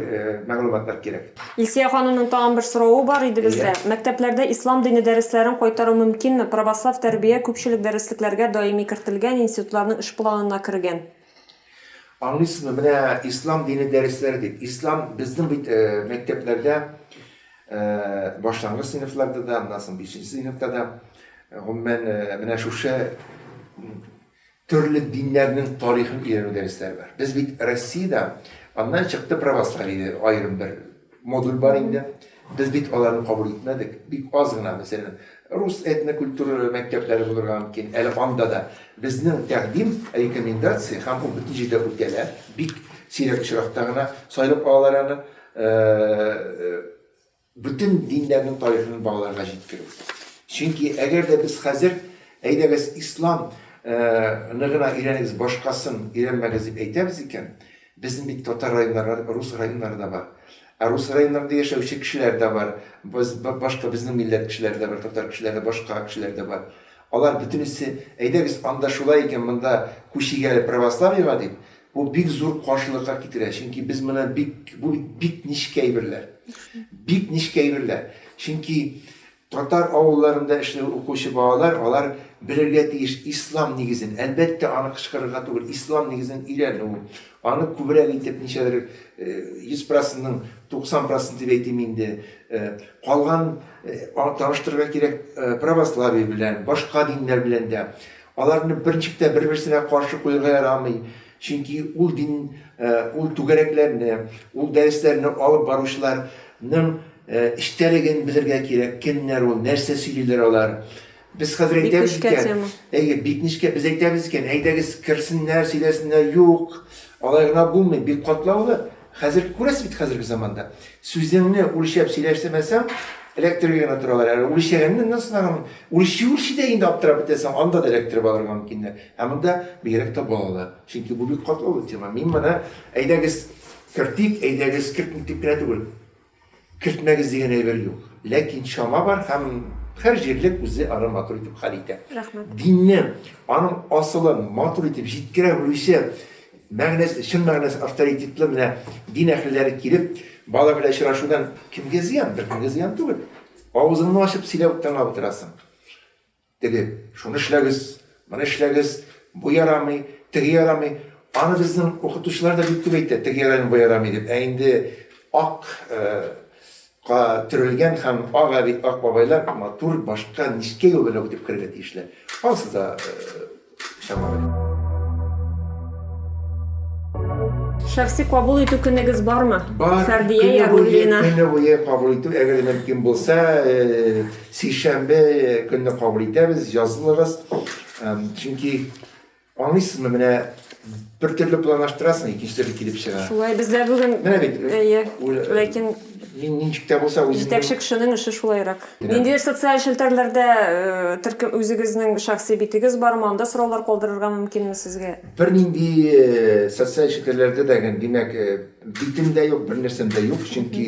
мәгълүматлар кирәк. Илсия ханымның тагын бер соравы бар иде бездә. Мәктәпләрдә ислам дине дәресләрен кайтару мөмкинме? Православ тәрбия күпчелек дәреслекләргә даими кертелгән, институтларның эш планына кергән. Аңлыйсызмы, менә ислам дине дәресләре дип, ислам безнең бит мәктәпләрдә, башлангыч сыйныфларда да, аннан соң бишенче сыйныфта да, гомумән, менә шушы төрле диннәрнең тарихын өйрәнү дәресләре бар. Без бит Россиядә, аннан чыкты православие, аерым бер Модуль бар инде. Без бит аларны кабул итмәдек. Бик аз гына, мәсәлән, рус этнокультур мәктәпләре булырга мөмкин. Әле анда да безнең тәкъдим, рекомендация һәм ул бөтен җирдә үтәлә. Бик сирәк очракта гына сайлап алалар аны. Бөтен диннәрнең тарихын балаларга җиткерү. Чөнки әгәр дә без хәзер, әйдәгез, ислам ны гына өйрәнегез, башкасын өйрәнмәгез дип әйтәбез икән, Безнең бит татар районнары рус районнары да бар. Ә рус районнарында яшәүче кешеләр дә бар. Без башка безнең милләт кешеләре дә бар, татар кешеләре, башка кешеләр дә бар. Алар бөтенесе, әйдәгез, анда шулай икән, монда күчик әле православиега дип, бу бик зур каршылыкка китерә. Чөнки без моны бик, бу бит бик нечкә әйберләр. Бик нечкә әйберләр. Чөнки Татар авылларында эшләү укучы балалар алар белергә тиеш ислам нигезен, әлбәттә аны кычкырырга түгел, ислам нигезен өйрәнү, аны күбрәк итеп ничәдер 100 процентның 90 процент дип әйтим инде, калган таныштырырга кирәк православие белән, башка диннәр белән дә. Аларны берничек тә бер-берсенә каршы куерга ярамый. Чөнки ул дин, ул түгәрәкләрне, ул дәресләрне алып баручыларның эчтәлеген белергә кирәк, кемнәр ул, нәрсә сөйлиләр алар. Без хәзер әйтәбез икән. Бик нечкә тема. Әйе, бик нечкә. Без әйтәбез икән, әйдәгез, керсеннәр, сөйләсеннәр. Юк, алай гына булмый, бик катлаулы. Хәзер күрәсез бит хәзерге заманда. Сүзеңне үлчәп сөйләшсәмәсәң, эләктерергә генә торалар. Әле үлчәгәнне нәрсә сынаган? Үлчи үлчи дә инде аптырап бетәсең, анда да эләктереп алырга мөмкиннәр. Ә монда бигрәк тә балалар. Чөнки бу бик катлаулы тема. Мин моны әйдәгез кертик, әйдәгез кертмик дип кенә түгел. Кертмәгез дигән әйбер юк. Ләкин чама бар һәм һәр җирлек үзе аны матур итеп хәл итә. Рәхмәт. Динне, аның асылын матур итеп җиткерә белүче, мәгънәсе, чын мәгънәсе авторитетлы менә дин әһелләре килеп, бала белән очрашудан кемгә зыян? Беркемгә зыян түгел. Авызыңны ачып сөйләп тыңлап утырасың. Теге, Шуны эшләгез, моны эшләгез, бу ярамый, теге ярамый. Аны безнең укытучылар да бик күп әйтә, теге ярамый, бу ярамый дип. Ә инде ак ка төрелгән һәм ак әби, ак бабайлар матур башка нечкә юл белән үтеп керергә тиешләр. Ансы да Шәхси кабул итү көнегез бармы? Бар. Фәрдия Яруллина. Көне буе кабул итү, әгәр мөмкин булса, э, сишәмбе көнне кабул итәбез, язылыгыз. Чөнки, аңлыйсызмы, менә Бер төрле планлаштырасың, икенче төрле килеп чыга. Шулай бездә бүген. Менә бит. Әйе. Ләкин мин ничек тә булса үзем. Җитәкче кешенең эше шулайрак. Ниндидер социаль челтәрләрдә э, төркем үзегезнең шәхси битегез бармы? Анда сораулар калдырырга мөмкинме сезгә? Бернинди э, социаль челтәрләрдә дә димәк э, битем дә юк, бернәрсәм дә юк, чөнки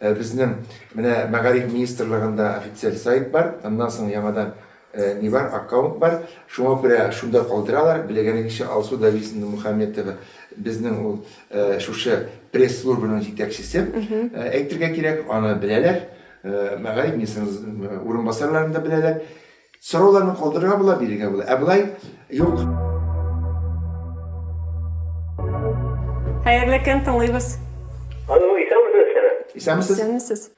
безнең менә мәгариф министрлыгында официаль сайт бар, аннан соң яңадан Ни бар, аккаунт бар, шуңа күрә шунда калдыралар. Белегәнегезчә, Алсу Давизовна Мухаметова безнең ул шушы пресс-службаның җитәкчесе, әйтергә кирәк, аны беләләр. Мәгариф министрының урынбасарларын да беләләр. Сорауларны калдырырга була, бирергә була. Ә болай юк. Хәерле көн, тыңлыйбыз. Алло, исәнмесез, Сәлам. Исәнмесез. Исәнмесез.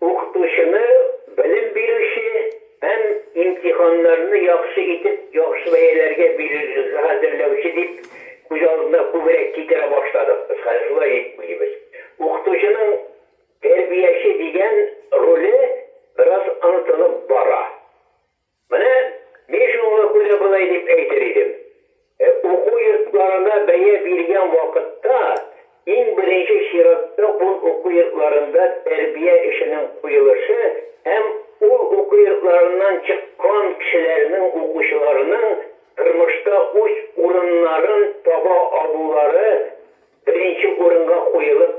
Укытучыны, белем бирүче һәм имтиханнарны яхшы итеп, яхшы бәяләргә бирергә хәзерләүче дип күз алдына күбрәк китерә башладык без. Хәзер шулай дип уйлыйбыз. Укытучының тәрбияче дигән роле бераз онытылып бара. Менә мин шуңа күрә болай дип әйтер идем, уку йортларына бәя биргән вакытта, иң беренче чиратта ул уку йортларында тәрбия эшенең куелышы һәм ул уку йортларыннан чыккан кешеләрнең укучыларның тормышта үз урыннарын таба алулары беренче урынга куелып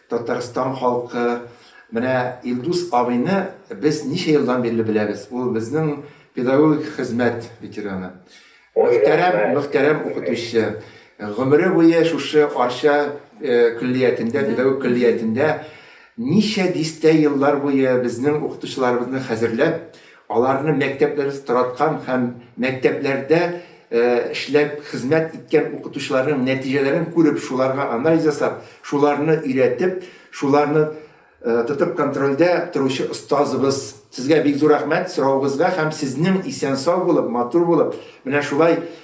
Татарстан халкы менә Илдус абыйны без ничә елдан бирле беләбез. Ул безнең педагогик хезмәт ветераны. Мөхтәрәм, мөхтәрәм укытучы. Гомере буе шушы Арча көллиятендә, педагог көллиятендә ничә дистә еллар буе безнең укытучыларыбызны хәзерләп, Аларны мәктәпләребез тараткан һәм мәктәпләрдә эшләп хезмәт иткән укытучыларның нәтиҗәләрен күреп, шуларга анализ ясап, шуларны өйрәтеп, шуларны тотып контрольдә торучы остазыбыз. Сезгә бик зур рәхмәт сорауыгызга һәм сезнең исән-сау булып, матур булып, менә шулай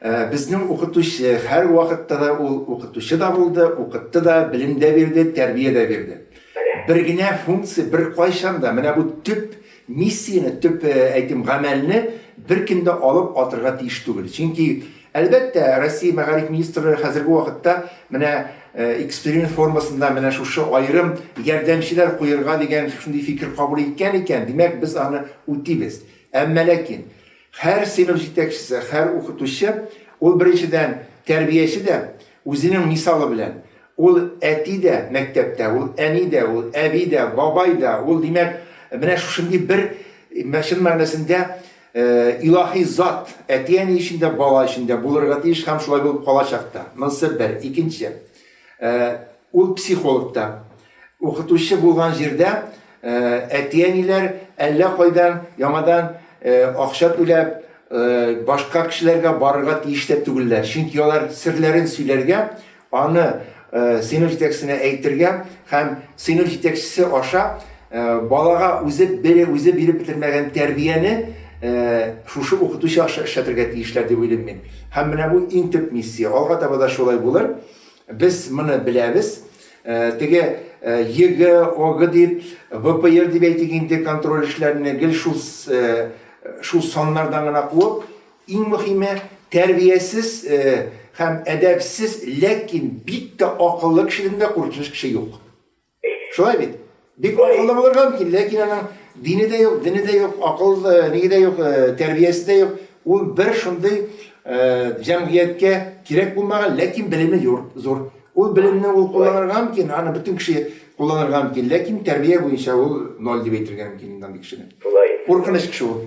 Безнең укытучы, һәрвакытта да ул укытучы да булды, укытты да, белем дә бирде, тәрбия дә бирде. Бер генә функция беркайчан да, менә бу төп миссияне, төп, әйтим, гамәлне беркем дә алып атырга тиеш түгел. Чөнки, әлбәттә, Россия мәгариф министрлыгы хәзерге вакытта менә эксперимент формасында менә шушы аерым ярдәмчеләр куерга дигән шушындый фикер кабул иткән икән, димәк, без аны үтибез. Әмма ләкин Һәр сыйныф җитәкчесе, һәр укытучы, ул беренчедән, тәрбияче дә, үзенең мисалы белән. Ул әти дә мәктәптә, ул әни дә, ул әби дә, бабай да, ул, димәк, менә шушындый бер, чын мәгънәсендә, илаһи зат, әти-әни өчен дә, бала өчен дә булырга тиеш һәм шулай булып калачак та. Монысы бер. Икенче, ул психолог та. Укытучы булган җирдә әти-әниләр әллә кайдан яңадан акча түләп, башка кешеләргә барырга тиеш тә түгелләр, чөнки алар серләрен сөйләргә, аны сыйныф җитәкчесенә әйтергә һәм сыйныф җитәкчесе аша балага үзе үзе биреп бетермәгән тәрбияне шушы укытучы аша эшләтергә тиешләр дип уйлыйм мин. Һәм менә бу иң төп миссия. Алга таба да шулай булыр. Без моны беләбез. Теге ЕГЭ, ОГЭ дип, ВПР дип әйтик инде, контроль эшләрне гел шул шул саннардан гына куып, иң мөхиме, тәрбиясез һәм әдәпсез, ләкин бик тә акыллы кешедән дә куркыныч кеше юк. Шулай бит? Бик акыллы булырга мөмкин, ләкин аның дине дә юк, дине дә юк, акыл ниге дә юк, тәрбиясе дә юк. Ул бер шундый җәмгыятькә кирәк булмаган, ләкин белеме юр, зур. Ул белемне ул кулланырга мөмкин, аны бөтен кеше кулланырга мөмкин, ләкин тәрбия буенча ул ноль дип әйтергә мөмкин инде андый кешене. Куркыныч кеше ул.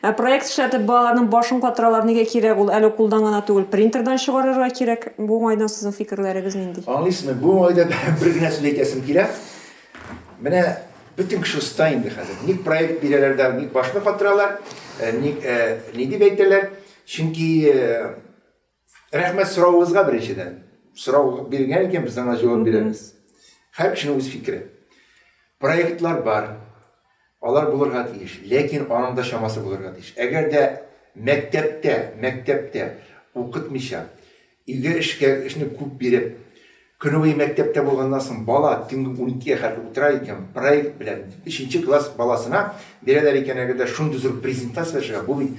Ә проект эшләтеп балаларның башын катыралар, нигә кирәк ул? Әле кулдан гына түгел, принтердан чыгарырга кирәк. Бу уңайдан сезнең фикерләрегез нинди? Аңлыйсызмы, бу уңайда бер генә сүз әйтәсем килә. Менә бөтен кеше оста инде хәзер. Ник проект бирәләр дә, ник башны катыралар, ник, ни дип әйтәләр? Чөнки Рәхмәт соравыгызга беренчедән. Сорау биргән икән, без аңа җавап бирәбез. Һәр кешенең үз фикере. Проектлар бар, алар булырга тиеш, ләкин аның да чамасы булырга тиеш. Әгәр дә мәктәптә, мәктәптә укытмыйча, өйгә эшкә, эшне күп биреп, көне буе мәктәптә булганнан соң бала төнге уникегә хәтле утыра икән, проект белән өченче класс баласына бирәләр икән, әгәр дә шундый зур презентация ясарга, бу бит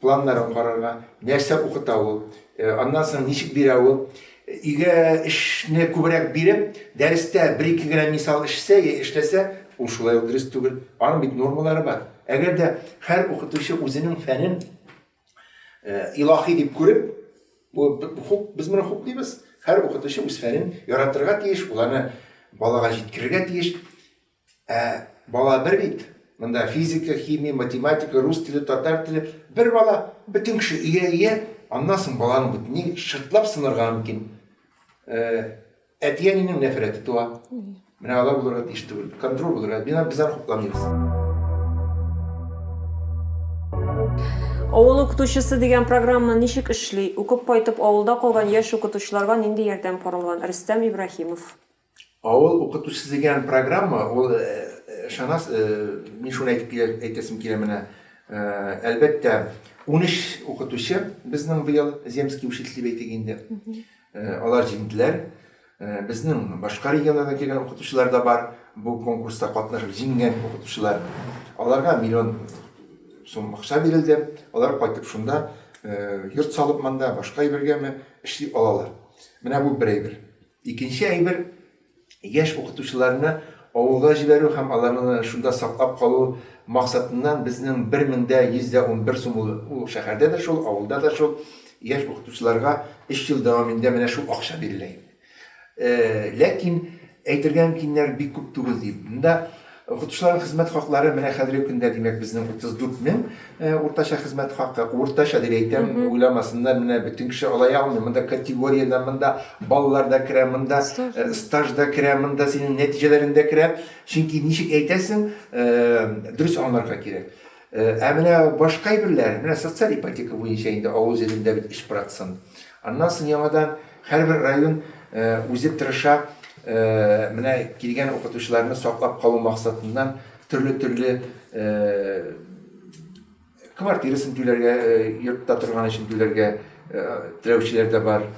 Планнарын карарга, нәрсә укыта ул, аннан соң ничек бирә ул. Өйгә эшне күбрәк биреп, дәрестә бер-ике генә мисал эшләсә яки эшләсә, ул шулай ук дөрес түгел. Аның бит нормалары бар. Әгәр дә һәр укытучы үзенең фәнен илаһи дип күреп, бу хуп, без моны хуплыйбыз. Һәр укытучы үз фәнен яратырга тиеш, ул аны балага җиткерергә тиеш. Ә бала бер бит. Монда физика, химия, математика, рус теле, татар теле, бер бала, бөтен кеше ия ия, аннан соң баланың бөтенләй шыртлап сынырга мөмкин. Әти-әнинең нәфрәте туа. Менә алар булырга тиеш түгел. Контроль булырга. Мина без аны хупламыйбыз. Авыл укытучысы дигән программа ничек эшли? Укып кайтып авылда калган яшь укытучыларга нинди ярдәм каралган? Рөстәм Ибраһимов. Авыл укытучысы дигән программа, ул, ышанас, мин шуны әйтеп килә, әйтәсем килә менә, әлбәттә, унөч укытучы безнең быел земский учитель дип әйтик инде. Алар җиңделәр. Безнең башка регионнардан килгән укытучылар да бар, бу конкурста катнашып җиңгән укытучылар. Аларга миллион сум акча бирелде, алар кайтып шунда йорт салып монда, башка әйбергәме, эшли алалар. Менә бу бер әйбер. Икенче әйбер, яшь укытучыларны авылга җибәрү һәм аларны шунда саклап калу максатыннан безнең бер мең дә йөз дә унбер сум ул, ул шәһәрдә дә шул, авылда да шул, яшь укытучыларга өч ел дәвамында менә шул акча бирелә инде. Ләкин әйтергә мөмкиннәр бик күп түгел, ди. Монда. Укытучыларның хезмәт хаклары менә хәзерге көндә, димәк, безнең 34 мең уртача хезмәт хакы. Уртача дип әйтәм, уйламасыннар, менә бөтен кеше ала алмый. Монда категория дә, монда баллар да керә, монда стаж да керә, монда синең нәтиҗәләрең дә керә. Чөнки ничек әйтәсең, дөрес аңларга кирәк. Ә менә башка әйберләр, менә социаль ипотека буенча инде авыл җирендә бит эш процент. Аннан соң яңадан һәрбер район үзе тырыша, менә килгән укытучыларны саклап калу максатыннан төрле-төрле квартирасын түләргә, йортта торган өчен түләргә теләүчеләр дә бар.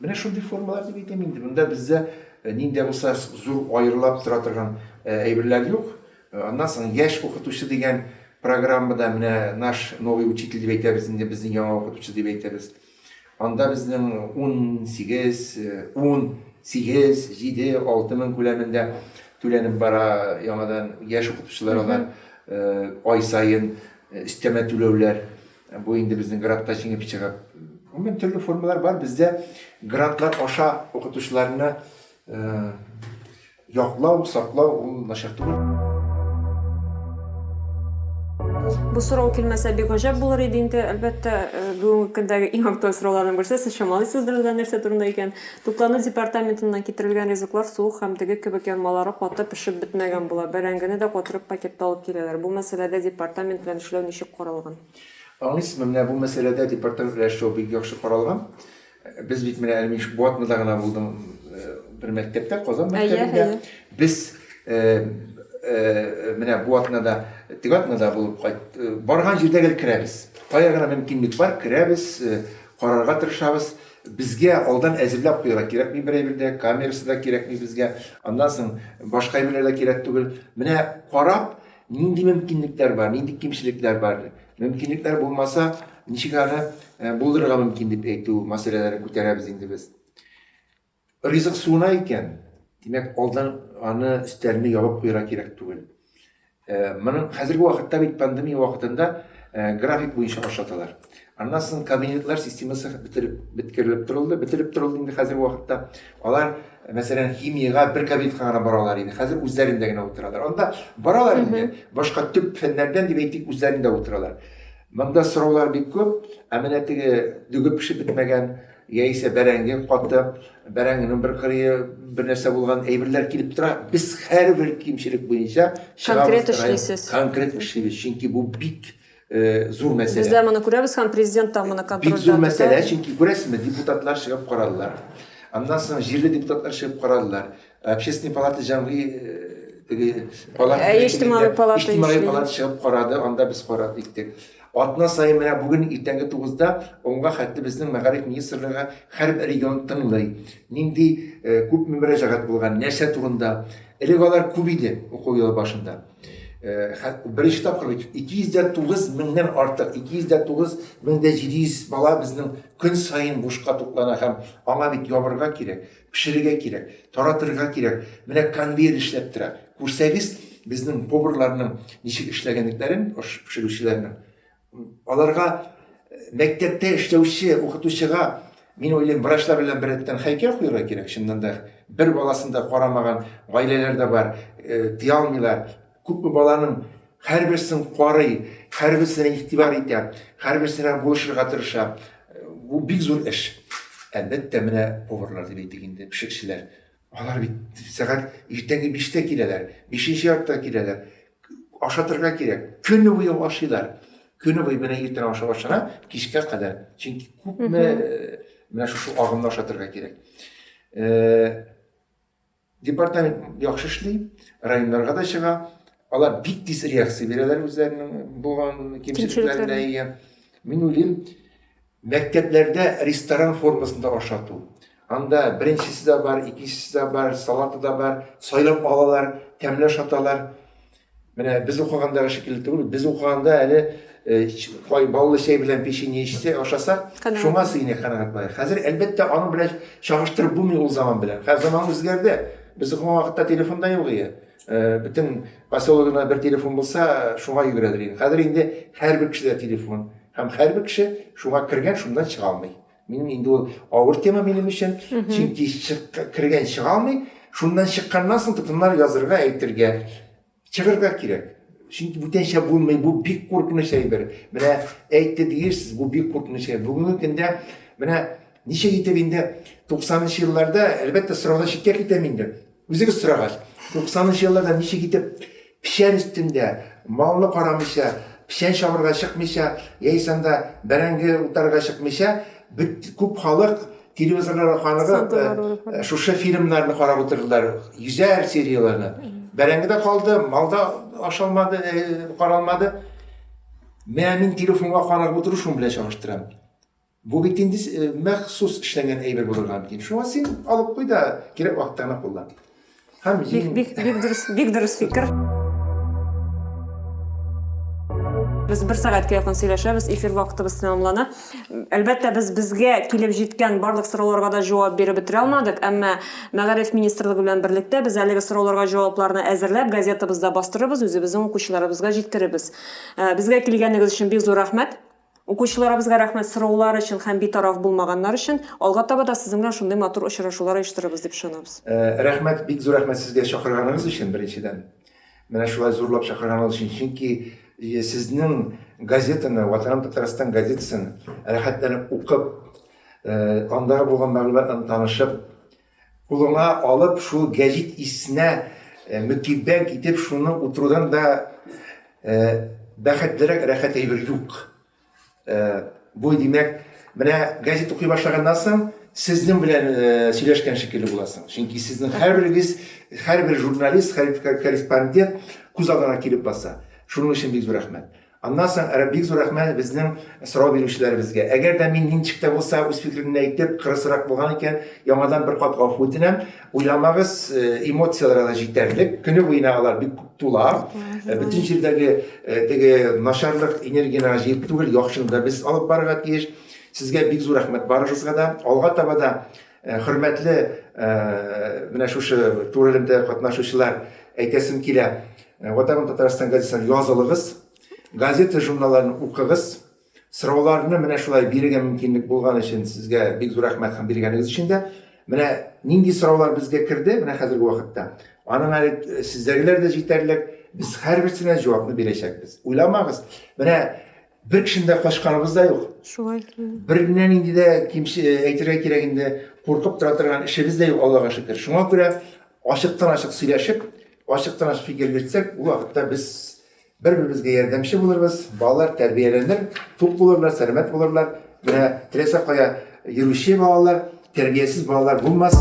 Менә шундый формалар дип әйтәм инде. Монда бездә нинди булса зур аерылап тора торган әйберләр юк. Аннан соң Яшь укытучы дигән программада менә наш новый учитель дип әйтәбез инде, безнең яңа укытучы дип әйтәбез. Анда безнең унсигез, ун, сигез, җиде, алты мең күләмендә түләнеп бара яңадан яшь укытучылар алар ай саен өстәмә түләүләр. Бу инде безнең грантта җиңеп чыгып. Гомумән төрле формалар бар. Бездә грантлар аша укытучыларны Яклау, саклау ул начар түгел. Бу сорау килмәсә бик гаҗәп булыр иде инде. Әлбәттә, бүгенге көндәге иң актуаль сорауларның берсе, сез чамалыйсыздыр ул да нәрсә турында икән? Туклану департаментыннан китерелгән ризыклар суык һәм теге кебек янмалары каты пешеп бетмәгән була. Бәрәңгене дә катырып пакетта алып киләләр. Бу мәсьәләдә департамент белән эшләү ничек каралган? Аңлыйсызмы, менә бу мәсьәләдә департамент белән эшләү бик яхшы каралган. Без бит менә әле мин Шбуатныда гына булдым, бер мәктәптә, Казан мәктәбендә. Без менә Буатнада, Тегатнада булып кайт, барган җирдә гел керәбез. Кая гына мөмкинлек бар, керәбез, карарга тырышабыз. Безгә алдан әзерләп куярга кирәкми бер әйбер дә, камерасы да кирәкми безгә. Аннан соң башка әйберләр дә кирәк түгел. Менә карап, нинди мөмкинлекләр бар, нинди кимчелекләр бар, Мөмкинлекләр булмаса, ничек аны булдырырга мөмкин дип әйтү мәсьәләләрен күтәрәбез инде без. Ризык суына икән, димәк, алдан аны өстәлне ябып куярга кирәк түгел. Моның хәзерге вакытта бит пандемия вакытында график буенча ашаталар. Аннан соң кабинетлар системасы бетереп беткерелеп торылды, бетереп торылды инде хәзерге вакытта. Алар Мәсәлән, химиягә бер кабинетка гына баралар иде, хәзер үзләрендә генә утыралар. Анда баралар инде, башка төп фәннәрдән дип әйтик, үзләрендә утыралар. Монда сораулар бик күп, ә менә теге дөге пешеп бетмәгән, яисә бәрәңге каты, бәрәңгенең бер кырые бер нәрсә булган әйберләр килеп тора. Без һәрбер кимчелек буенча чыгабыз, конкрет эшлибез. Конкрет эшлибез, чөнки бу бик Зур мәсьәлә. Без дә моны күрәбез һәм президент та моны контрольдә тота. Бик зур мәсьәлә, чөнки күрәсезме, депутатлар чыгып карадылар. Аннан соң җирле депутатлар чыгып карадылар. Общественный палата җәмгый теге палата. Ә иҗтимагый палата эшли. Иҗтимагый палата чыгып карады, анда без карар иттек. Атна саен менә бүген иртәнге 9-да онга хәтле безнең мәгариф министрлыгы һәрбер регион тыңлый. Нинди күпме мөрәҗәгать булган, нәрсә турында. Элек алар күп иде уку елы башында. Беренче тапкыр бит 209 меңнән артык, 209 мең дә 700 бала безнең көн саен бушка туклана һәм аңа бит ябырга кирәк, пешерергә кирәк, таратырга кирәк. Менә конвейер эшләп тора. Күрсәгез, безнең поварларның ничек эшләгәнлекләрен, аш пешерүчеләрнең. Аларга мәктәптә эшләүче укытучыга Мин уйлыйм, врачлар белән беррәттән хәйкәл куярга кирәк, чыннан да. Бер баласын да карамаган гаиләләр дә бар, э, тыя алмыйлар. Күпме баланың һәрберсен карый, һәрберсенә игътибар итә, һәрберсенә булышырга тырыша. Бу бик зур эш. Әлбәттә, менә поварлар дип әйтик инде, пешекчеләр. Алар бит сәгать иртәнге биштә киләләр, бишенче яртыда киләләр. Ашатырга кирәк. Көне буе ашыйлар. Көне буе менә иртән ашап ашана, кичкә кадәр. Чөнки күпме э, менә шушы агымда ашатырга кирәк. Э, департамент яхшы эшли, районнарга да чыга. Алар бик тиз реакция бирәләр үзләренең булган кимчелекләренә. Мин уйлыйм, Мәктәпләрдә ресторан формасында ашату. Анда беренчесе дә бар, икенчесе дә бар, салаты да бар, сайлап алалар, тәмле ашаталар. Менә без укыгандагы шикелле түгел, без укыганда әле кай баллы чәй белән печенье эчсә, ашаса, шуңа сыйный канәгать була. Хәзер әлбәттә аның белән чагыштырып булмый ул заман белән. Хәзер заман үзгәрде. Без укыган вакытта телефон да юк иде. Э, бөтен поселогына бер телефон булса шуңа йөгерәдер инде хәзер инде һәрбер кешедә телефон һәм һәрбер кеше шуңа кергән шуннан чыга алмый минем инде ул авыр тема минем өчен чөнки кергән чыга алмый шуннан чыкканнан соң тотыннар язырга әйтергә чыгырга кирәк чөнки бүтәнчә булмый бу бик куркыныч әйбер менә әйтте диерсез бу бик куркыныч әйбер бүгенге көндә менә ничек итеп инде туксанынчы елларда әлбәттә сораудан читкә китәм инде Үзегез сорагач, 90 нчы елларда ничек итеп печән өстендә, малны карамыйча, печән чабырга чыкмыйча, яисә анда бәрәңге утарырга чыкмыйча, бөт күп халык телевизорларга каныгып, шушы фильмнарны карап утырдылар, йөзәр серияләрне. Бәрәңге дә калды, мал да ашалмады, каралмады. Менә мин телефонга карап утыру шуның белән чагыштырам. Бу бит инде махсус эшләнгән әйбер булырга мөмкин. Шуңа син алып куй да кирәк вакытта гына куллан. Һәм бик бик бик дөрес, бик дөрес фикер. Без бер сәгатькә якын сөйләшәбез, эфир вакытыбыз тәмамлана. Әлбәттә, без безгә килеп җиткән барлык сорауларга да җавап биреп бетерә алмадык, әмма Мәгариф министрлыгы белән берлектә без әлеге сорауларга җавапларны әзерләп, газетабызда бастырырбыз, үзебезнең укучыларыбызга җиткерербез. Э, безгә килгәнегез өчен бик зур рәхмәт. Укучыларыбызга рәхмәт сораулар өчен һәм битараф булмаганнар өчен. Алга таба да сезнең белән шундый матур очрашулар оештырырбыз дип ышанабыз. Рәхмәт, бик зур рәхмәт сезгә чакырганыгыз өчен, беренчедән. Менә шулай зурлап чакырганыгыз өчен, чөнки сезнең газетаны, Ватаным Татарстан газетасын рәхәтләнеп укып, андагы булган мәгълүмат белән танышып, Кулыңа алып шул гәҗит иснә мөкиббән итеп шуны утырудан да бәхетлерәк рәхәт әйбер юк. Бу, димәк, менә гәҗит укый башлаганнан соң сезнең белән сөйләшкән шикелле буласың. Чөнки сезнең һәрберегез, һәрбер журналист, һәрбер корреспондент күз алдына килеп баса. Шуның өчен бик зур рәхмәт. Аннан соң бик зур рәхмәт безнең сорау бирүчеләребезгә. Әгәр дә мин ничек тә булса үз фикеремне әйтеп, кырысрак булган икән, яңадан бер кат гафу үтенәм. Уйламагыз, эмоцияләр алар җитәрлек, көне буена алар бик күп тула. Бөтен җирдәге теге начарлык энергияне аңа җыеп түгел, яхшыны да без алып барырга тиеш. Сезгә бик зур рәхмәт барыгызга да. Алга таба да Э, хөрмәтле э, менә шушы тур элемтә катнашучылар әйтәсем килә э, ватаным татарстан газетасына язылыгыз газета журналларын укыгыз сорауларны менә шулай бирергә мөмкинлек булган өчен сезгә бик зур рәхмәт һәм биргәнегез өчен дә менә нинди сораулар безгә керде менә хәзерге вакытта аның әле сездәгеләр дә җитәрлек без һәрберсенә җавапны бирәчәкбез уйламагыз менә Бер кешене дә качканыбыз да юк. Шулай. Береннән инде дә кимче э, әйтергә кирәк инде куркып тора торган эшебез дә юк, Аллага шөкер. Шуңа күрә ачыктан ачык сөйләшеп, ачыктан ачык фикер йөртсәк, ул вакытта без бер-беребезгә ярдәмче булырбыз, балалар тәрбияләнер, тук булырлар, сәламәт булырлар. Менә теләсә кая йөрүче балалар, тәрбиясез балалар булмас.